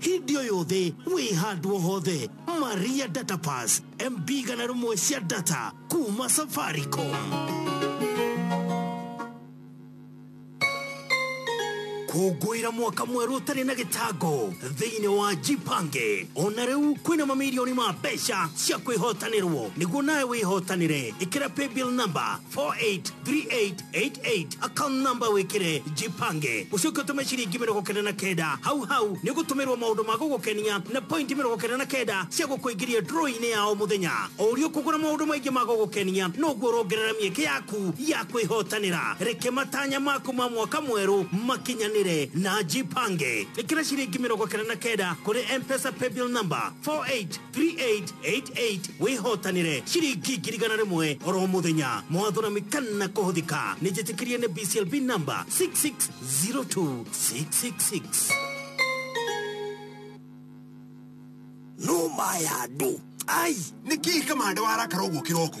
hindi o yothe wĩ handũ o hothe maria data pass mb gana rĩmwe cia data kuma safaricom kũngũĩra mwaka mwerũ ũtarĩ na gĩtango thĩinĩ wa jipange ona rĩu kwĩna mamirioni ma mbeca cia kwĩhotanĩrwo nĩguo nawe wĩhotanĩre ĩkĩra paybill number 4838 88 account number wikire jipange ucoke utume ciringi mirongo kenda na kenda hau hau ni gutumirwo maundu ma gugukenia na point mirongo kenda na kenda cia gukuingiria draw-ini ya o muthenya o uria ukugura maundu maingi ma gugukenia noguo urongerera mieke yaku ya kwihotanira reke matanya maku ma mwaka mweru makinyanire na jipange ikira ciringi mirongo kenda na kenda kuri mpesa paybill number 48 3888 wihotanire ciringi ngiri igana rimwe oro muthenya mawatho na mikana kuhuthika nijitikirie ni bclb number 6602666 numa ya andu ai nä kä kamande warakara å guo kä roko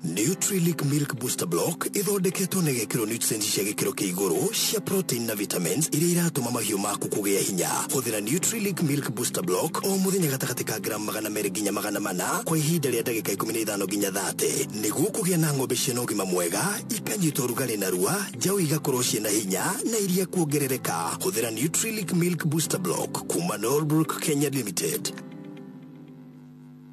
Nutrilic Milk Booster Block ithondeketwo na igekĩrwo nutrients cia gĩkĩro kĩa igũrũ cia protein na vitamins iria iratũma mahiũ maku kũgĩa hinya. Hũthĩra Nutrilic Milk Booster Block o mũthenya gatagatĩ ka gramu magana merĩ nginya magana mana kwa ihinda rĩa ndagĩka ikũmi na ithano nginya thate nĩguo kũgĩa na ng'ombe ciĩna ũgima mwega ikanyita ũrugarĩ narua njaũ igakorwo ciĩna hinya na iria kuongerereka. Hũthĩra Nutrilic Milk Booster Block kuma Norbrook Kenya Limited.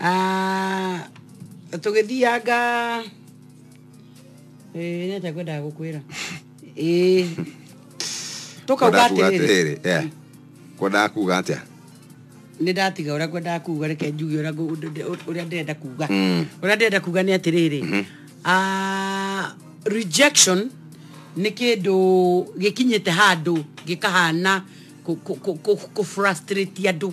Ah, tũgĩthianga Eh, nĩ atĩa kwendaga gũkwĩra Eh, tũkauga Kwendaga kuuga atĩrĩrĩ atĩrĩrĩ eh, kwendaga kuuga atĩa nĩ ndatiga ũrĩa kwendaga kuga reke njuge ũrĩa ngũ- ũndũ- ũndũ- ũrĩa ndĩrenda kuga Mm. ũrĩa ndĩrenda kuga nĩ atĩrĩrĩ Ah, rejection nĩ kĩndũ gĩkinyĩte handũ gĩkahana kũ- kũ- kũ- kũ- kũ-frustrate andũ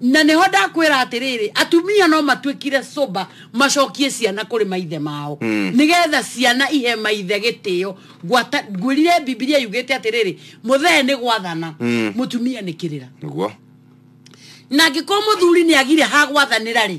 na nĩho ndakwĩra atĩrĩrĩ atumia no matuĩkire soba macokie ciana kũrĩ maithe mao nĩgetha ciana ihe maithe gĩtĩo Ngwata- ngwĩrire bibilia yugĩte atĩrĩrĩ mũthee nĩ gwathana mũtumia nĩ kĩrĩra nĩguo na angĩkorwo mũthuri nĩ agire ha gwathanĩra rĩ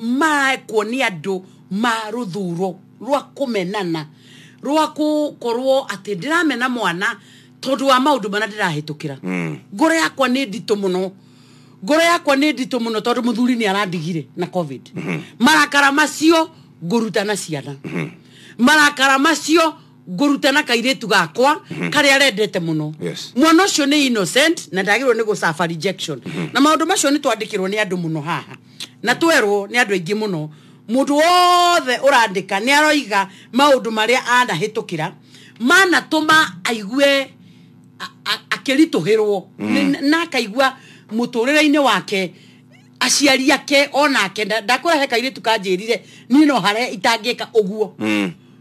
maekwo nĩ andũ ma rũthuro rwa kũmenana rwa gũkorwo atĩ ndĩramena mwana tondũ wa maũndũ marĩa ndĩrahĩtũkĩra mm. ngoro yakwa nĩ nditũ mũno ngoro yakwa nĩ nditũ mũno tondũ mũthuri nĩ arandigire na covid mm-hmm. marakara macio ngũruta na ciana mm-hmm. marakara macio ngũruta na kairĩtu gakwa karĩa arendete mũno Yes. mwana ũcio nĩ innocent na ndagĩrĩirwo nĩ gũcaba rejection na maũndũ macio nĩ twandĩkĩrwo nĩ andũ mũno haha na twerwo nĩ andũ aingĩ mũno mũndũ wothe ũrandĩka nĩ aroiga maũndũ marĩa anahĩtũkĩra manatũma aigue a- a- akĩritũhĩrwo Nĩ- na akaigua mũtũrĩre-inĩ wake aciari ake onake nda- ndakũrehe kairĩtu kanjĩrire niĩ no harĩa itangĩka ũguo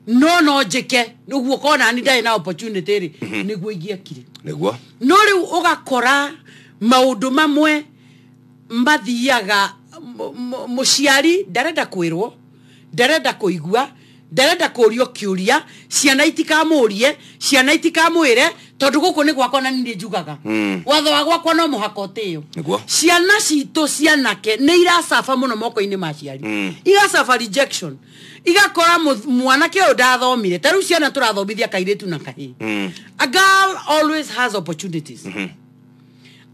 no no njĩke nĩguo kona ni ndarĩ na opportunity rĩ nĩguo ingĩekire nĩguo no rĩu ũgakora maũndũ mamwe mathiaga mu- mu- mũciari ndarenda kwĩrwo ndarenda kũigua ndarenda kũrio kĩũria ciana itikamũrie ciana itikamwĩre tondũ gũkũ nĩ gwakwa na nindĩ njugaga Mm. watho wa gwakwa no mũhaka ũtĩyo Nĩguo. ciana citũ cianake nĩ iracaba mũno moko-inĩ ma ciari Mm. iracaba rejection igakora mu- mwanake ũyũ ndathomire ta rĩu ciana tũrathomithia kairĩtu na kahĩ Mm. a girl always has opportunities Mhm.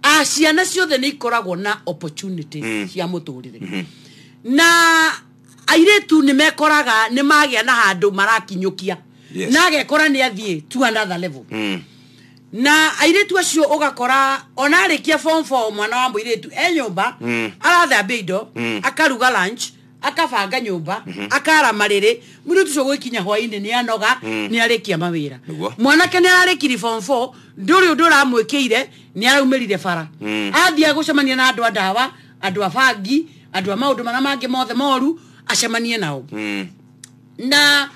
a ciana ciothe nä ikoragwo na opportunities Mm. cia må tå rä re Mhm. na airĩtu nä mekoraga nä magä a na handå marakinyũkia Yes. na agekora nä athiä to another level Mm. na airĩtu acio ũgakora ona arĩkia form four mwana wa mũirĩtu e nyũmba Mm. arathambia indo Mm. akaruga lunch akabanga nyũmba Mhm. akara marĩrĩ mũirĩtu ũcio gwĩkinya hwainĩ nĩ anoga Mm. nĩ arĩkia mawĩra Nĩguo. mwanake nĩ ararĩkiri form four ndũrĩ ũndũ ũramwĩkĩire nĩ araumĩrire bara Mm. athiĩ agũcemania na andũ a ndawa andũ a bangi andũ a maũndũ marĩa mangĩ mothe moru acemanie nao Mm. na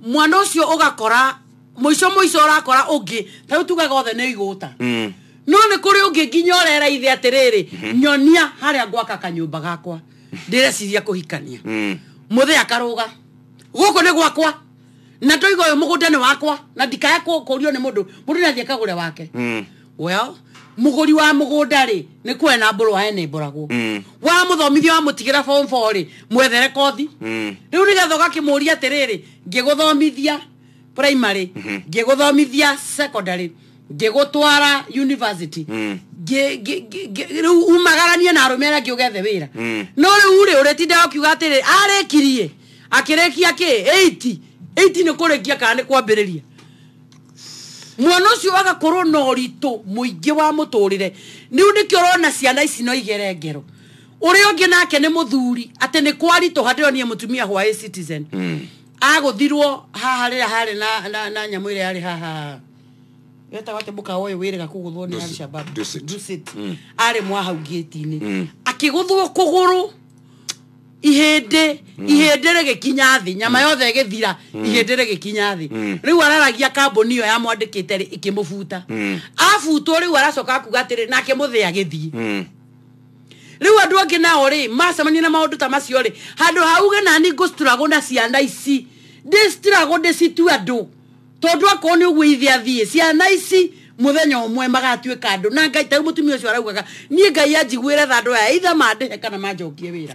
mwana ũcio ũgakora mũico mũico ũrakora ũngĩ tarĩu tugaga othe nĩ igũta Mm. no nĩ kũrĩ ũngĩ nginya ũrera ithe atĩrĩrĩ nyonia harĩa ngwaka kanyũmba gakwa ndĩreciria kũhikania Mm. mũthĩ akarũga gũkũ nĩ gwakwa na ndoiga ũyũ mũgũnda nĩ wakwa na ndikaya kũ- kũũrio nĩ mũndũ mũndũ nĩ athiĩ akagũre wake Mm. well mũgũri wa mũgũnda rĩ nĩ kwena mbũrũ wa ene mbũragwo Mm. wa mũthomithia wa mũtigĩra form four rĩ mwethere kothi Mm. rĩu nĩgetha ũgakĩmũria atĩrĩrĩ ngĩgũthomithia primary ngĩgũthomithia secondary ngĩgũtwara university Mm. ngĩ- ngĩ- ngĩ- ngĩ- rĩu umagaranie na arũme arĩa angĩ ũgethe wĩra Mm. no rĩu rĩ ũrĩtinda ũkiuga atĩrĩ arĩkirie akĩrĩkia kĩ 8 8 nĩ kũrĩkia kana nĩ kwambĩrĩria mwana ũcio agakorwo na ũritũ mũingĩ wa mũtũrĩre rĩu nĩkĩo ũrona ciana ici no igere ngero ũrĩa ũngĩ nake nĩ mũthuri atĩ nĩ kwaritũha ndĩronire mũtumia hwaĩ citizen Mm. agũthirwo haha rĩrĩa harĩ na, na, na nyamũ ĩrĩa yarĩ haha wetagwo atĩ mũkawa ũyũ wĩrĩga kũgũthwo nĩ Dusit. alshabab Dusit. Dusit. arĩ mwa hau ngĩti-inĩ akĩgũthwo kũgũrũ ihĩndĩ ihĩndĩ rĩgĩkinya thĩ nyama yothe ĩgĩthira ihĩndĩ rĩgĩkinya thĩ rĩu araragia kambũni ĩyo yamwandĩkĩte rĩ ĩkĩmũbuta abutwo rĩu aracoka kuga atĩrĩ nake mũthĩ agĩthiĩ rĩu andũ angĩ nao rĩ macemania na maũndũ ta macio rĩ handũ hauge nani ngũcituragwo na ciana ici ndĩcituragwo ndĩcitue andũ tondũ akorwo nĩ ũguo ithe athiĩ ciana ici mũthenya ũmwe magatuĩka andũ na ngai tau mũtumia ũcio araugaga niĩ ngai anjiguĩre tha andũ aya itha mandĩhe kana manjokie wĩra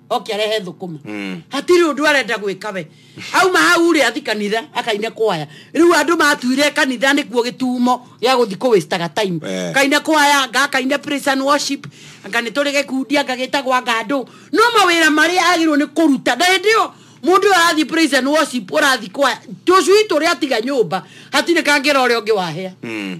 oke arehe thũkũma Mm. hatirĩ ũndũ arenda gwĩka we auma hau rĩ athi kanitha akaine kwaya rĩu andũ matuire kanitha nĩkuo gĩtumo gĩa gũthi kũwĩstaga time Eh. kaine kwaya ngakaine praise and worship anga nĩ tũrĩ gĩkundi anga gĩtagwa ngandũ no mawĩra marĩa agĩrĩirwo nĩ kũruta na hĩndĩ ĩyo mũndũ ũyũ arathi praise and worship ũrathi kwaya tũcui tũrĩa atiga nyũmba hatirĩ kangĩra ũrĩa ũngĩ wahĩa Mm.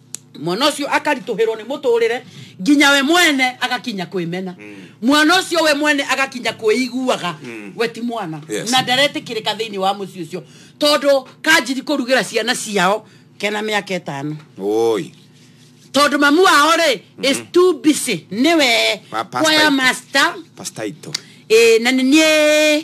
mwana ũcio akaritũhĩrwo nĩ mũtũrĩre nginya we mwene agakinya kwĩmena mm. mwana ũcio we mwene agakinya kwĩiguaga mm. we ti mwana yes. na ndaretĩkĩrĩka thĩinĩ wa mũciĩ ũcio tondũ kanjiri kũrugĩra ciana ciao kena mĩaka ĩtano oi tondũ mamu wao rĩ mm -hmm. is mhm. too busy nĩwe kwaya master pastaito ĩ na nĩ niĩ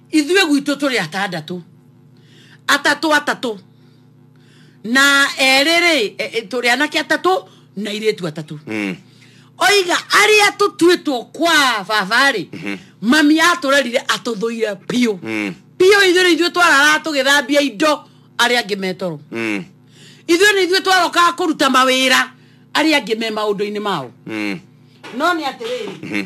ithuĩ gwitũ tũrĩ atandatũ atatũ atatũ na erĩ rĩ e, e, tũrĩ anake atatũ na irĩtu atatũ Mm. oiga arĩa tũtuĩtwo kwa babarĩ mami atũrerire atũthũire biũ Mm. biũ ithuĩ nĩ ithuĩ twararaa tũgĩthambia indo arĩa angĩ metoro Mm. ithuĩ nĩ ithuĩ twarokaga kũruta mawĩra arĩa angĩ me maũndũ-inĩ mao Mm. no nĩ atĩrĩrĩ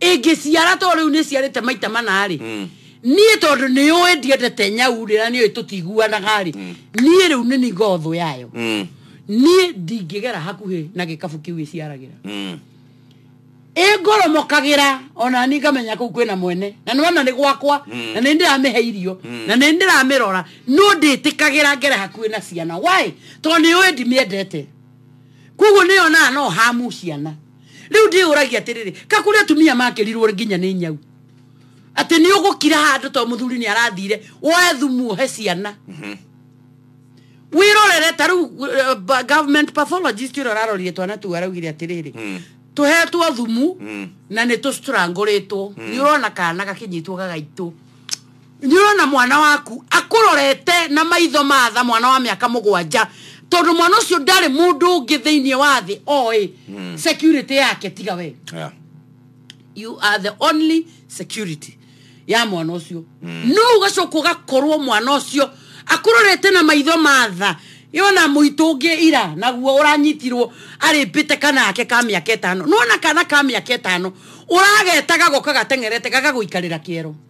ĩngĩciara to rĩu nĩ ciarĩte maita manarĩ mm. niĩ tondũ nĩ ũĩ ndiendete nyau rĩra nĩ ũĩ tũtiguanaga rĩ mm. niĩ rĩu nĩ ningothũ yayo mm. niĩ ndingĩgera hakuhĩ na gĩkabu kĩu ĩciaragĩra mm. ĩngoromokagĩra ona ni ngamenya kũu kwĩna mwene na nĩwona nĩ gwakwa mm. na nĩ ndĩramĩhe irio mm. na nĩ ndĩramĩrora no ndĩtĩkagĩra ngere hakuhĩ na ciana why tondũ nĩ ũĩ ndimĩendete koguo nĩyonaga no hamu ciana rĩu ndĩũragia atĩrĩrĩ kakũrĩ atumia makĩrirwo nginya nĩ nyau atĩ nĩ ũgũkira handũ to mũthuri nĩ arathire woe thumu ũhe ciana mhm. wĩrorere ta rĩu eh, government pathologist ũrĩa ũrarorire twana tu araugire atĩrĩrĩ hmm. tũhetwo thumu hmm. na nĩ tũcitũrangũrĩtwo hmm. nĩ ũrona kana gakinyitwo gagaitũ nĩũrona mwana waku akũrorete na maitho ma tha mwana wa mĩaka mũgwanja tondũ mwana ũcio ndarĩ mũndũ ũngĩ thĩinĩ wa thĩ oĩ mm. security yake tiga we yeah. you are the only security ya mwana ũcio mm. no ũgacoka ũgakorwo mwana ũcio akũrorete na maitho ma tha yona mũitũ ũngĩ ira naguo ũranyitirwo arĩmbĩte kana ake ka mĩaka ĩtano nona kana ka mĩaka ĩtano ũragetaga goka gateng'erete gagagũikarĩra kĩero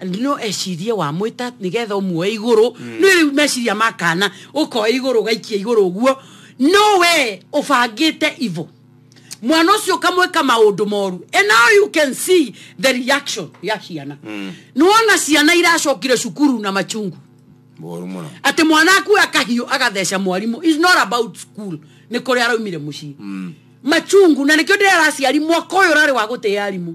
And no ecirie wamwĩta nĩgetha ũmuoe igũrũ nĩ rĩu meciria makana ũkoe igũrũ ũgaikia igũrũ ũguo no we ũbangĩte ivo mwana ũcio ũkamwĩka maũndũ moru and now you can see the reaction ya ciana nĩwona ciana iracokire cukuru na machungu moru muno atä mwana akuoya kahiå agatheca mwarimå is not about school nä kå rä araumire må ciä machungu na nä kä o ndä araciari mwaka å yå rarä wa gå tä arimå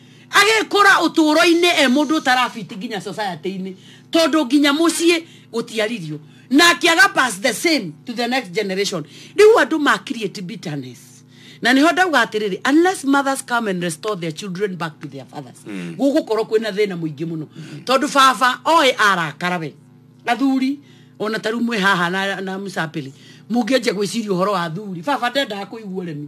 agĩkũra ũtũũro-inĩ e mũndũ ũtarabiti nginya society-inĩ tondũ nginya mũciĩ gũtiaririo na akĩaga pass the same to the next generation rĩu andũ ma create bitterness na nĩho ndauga atĩrĩrĩ unless mothers come and restore their children back to their fathers gũgũkorwo kwĩna thĩna mũingĩ mũno tondũ baba oĩ arakara we athuri ona ta rĩu mwĩ haha na, na msapili mũngĩanjia gwĩciria ũhoro wa athuri baba ndendaga kũigua ũremi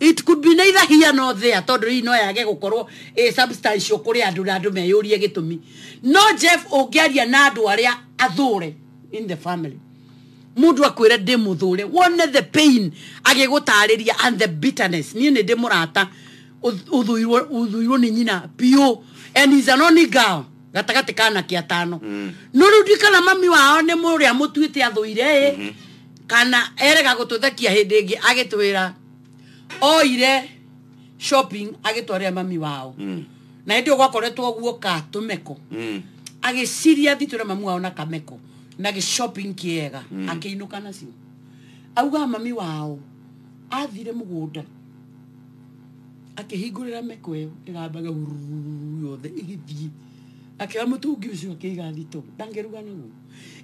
it could be neither here nor there tondu hii no yage gukorwo a substantial kuri andu na andu meyurie gitumi no jeff ungiaria na andu aria athure in the family mundu akwire ndi muthure wone the pain agigutariria and the bitterness nie ni ndi murata uth- uthuirwo uthuirwo ni nyina pio and is an only girl gatagati kana kia tano no riu ndikana mami wao ni muria mutuite athuire kana erega gũtũthekia hĩndĩ ĩngĩ agĩtwĩra oire shopping agĩtwarĩra mami wao Mm. na hĩndĩ ĩyo gwakoretwo guoka tũmeko Mm. agĩciria thiĩ twĩre mami wao na kameko na gĩshopping kĩega akĩinũka nacio augaga mami wao athire mũgũnda akĩhingũrĩra meko ĩyo ĩrambaga huruu yothe ĩgĩthiĩ akĩoya mũtungi ũcio akĩiga thito ndangĩruga naguo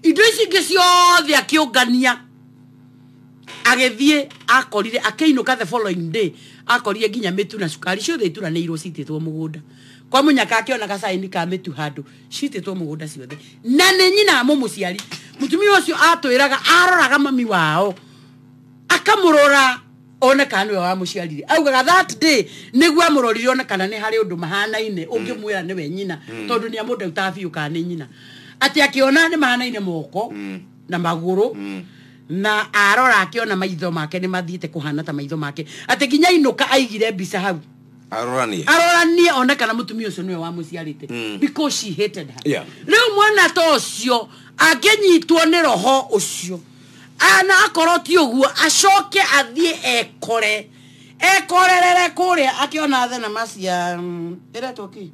indo ici ingĩ ciothe akĩũngania agĩthiĩ akorire akĩinũka the following day akorire nginya mĩtu na cukari ciothe ituranĩirwo citĩtwo mũgũnda kwa mũnyaka akĩona gacaini ka mĩtu handũ citĩtwo mũgũnda ciothe na nĩ nyina mũmũciari mũtumia ũcio atwĩraga aroraga mami wao akamũrora one kana nĩwe wamũciarire augaga that day nĩguo amũrorire one kana nĩ harĩ ũndũ mahanaine ũngĩmwĩra nĩwe nyina tondũ nĩ amũndautaga biũ kana nĩ nyina atĩ akĩona nĩ mahanaine moko na magũrũ na arora akĩona maitho make nĩ mathiĩte kũhana ta maitho make atĩ nginya inũka aigire mbica hau aroranie aroranie one kana mũtumia ũcio nĩwe wamũciarĩte because she hated her Yeah. rĩu mwana ta ũcio angĩnyitwo nĩ roho ũcio ana akorwo ti ũguo acoke athiĩ ekore ekorerere kũrĩa akĩona thenema cia mm, ĩretwo kĩ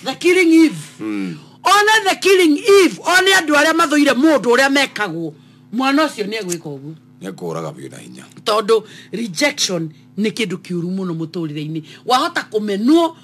the killing eve mm. one the killing eve one andũ arĩa mathũire mũndũ ũrĩa mekagwo mwana ũcio nĩ egwĩka ũguo nä kå raga biå na hinya tondå rejection nä kä ndå kä å ru må no må tå rä re-inä wahota kå menwo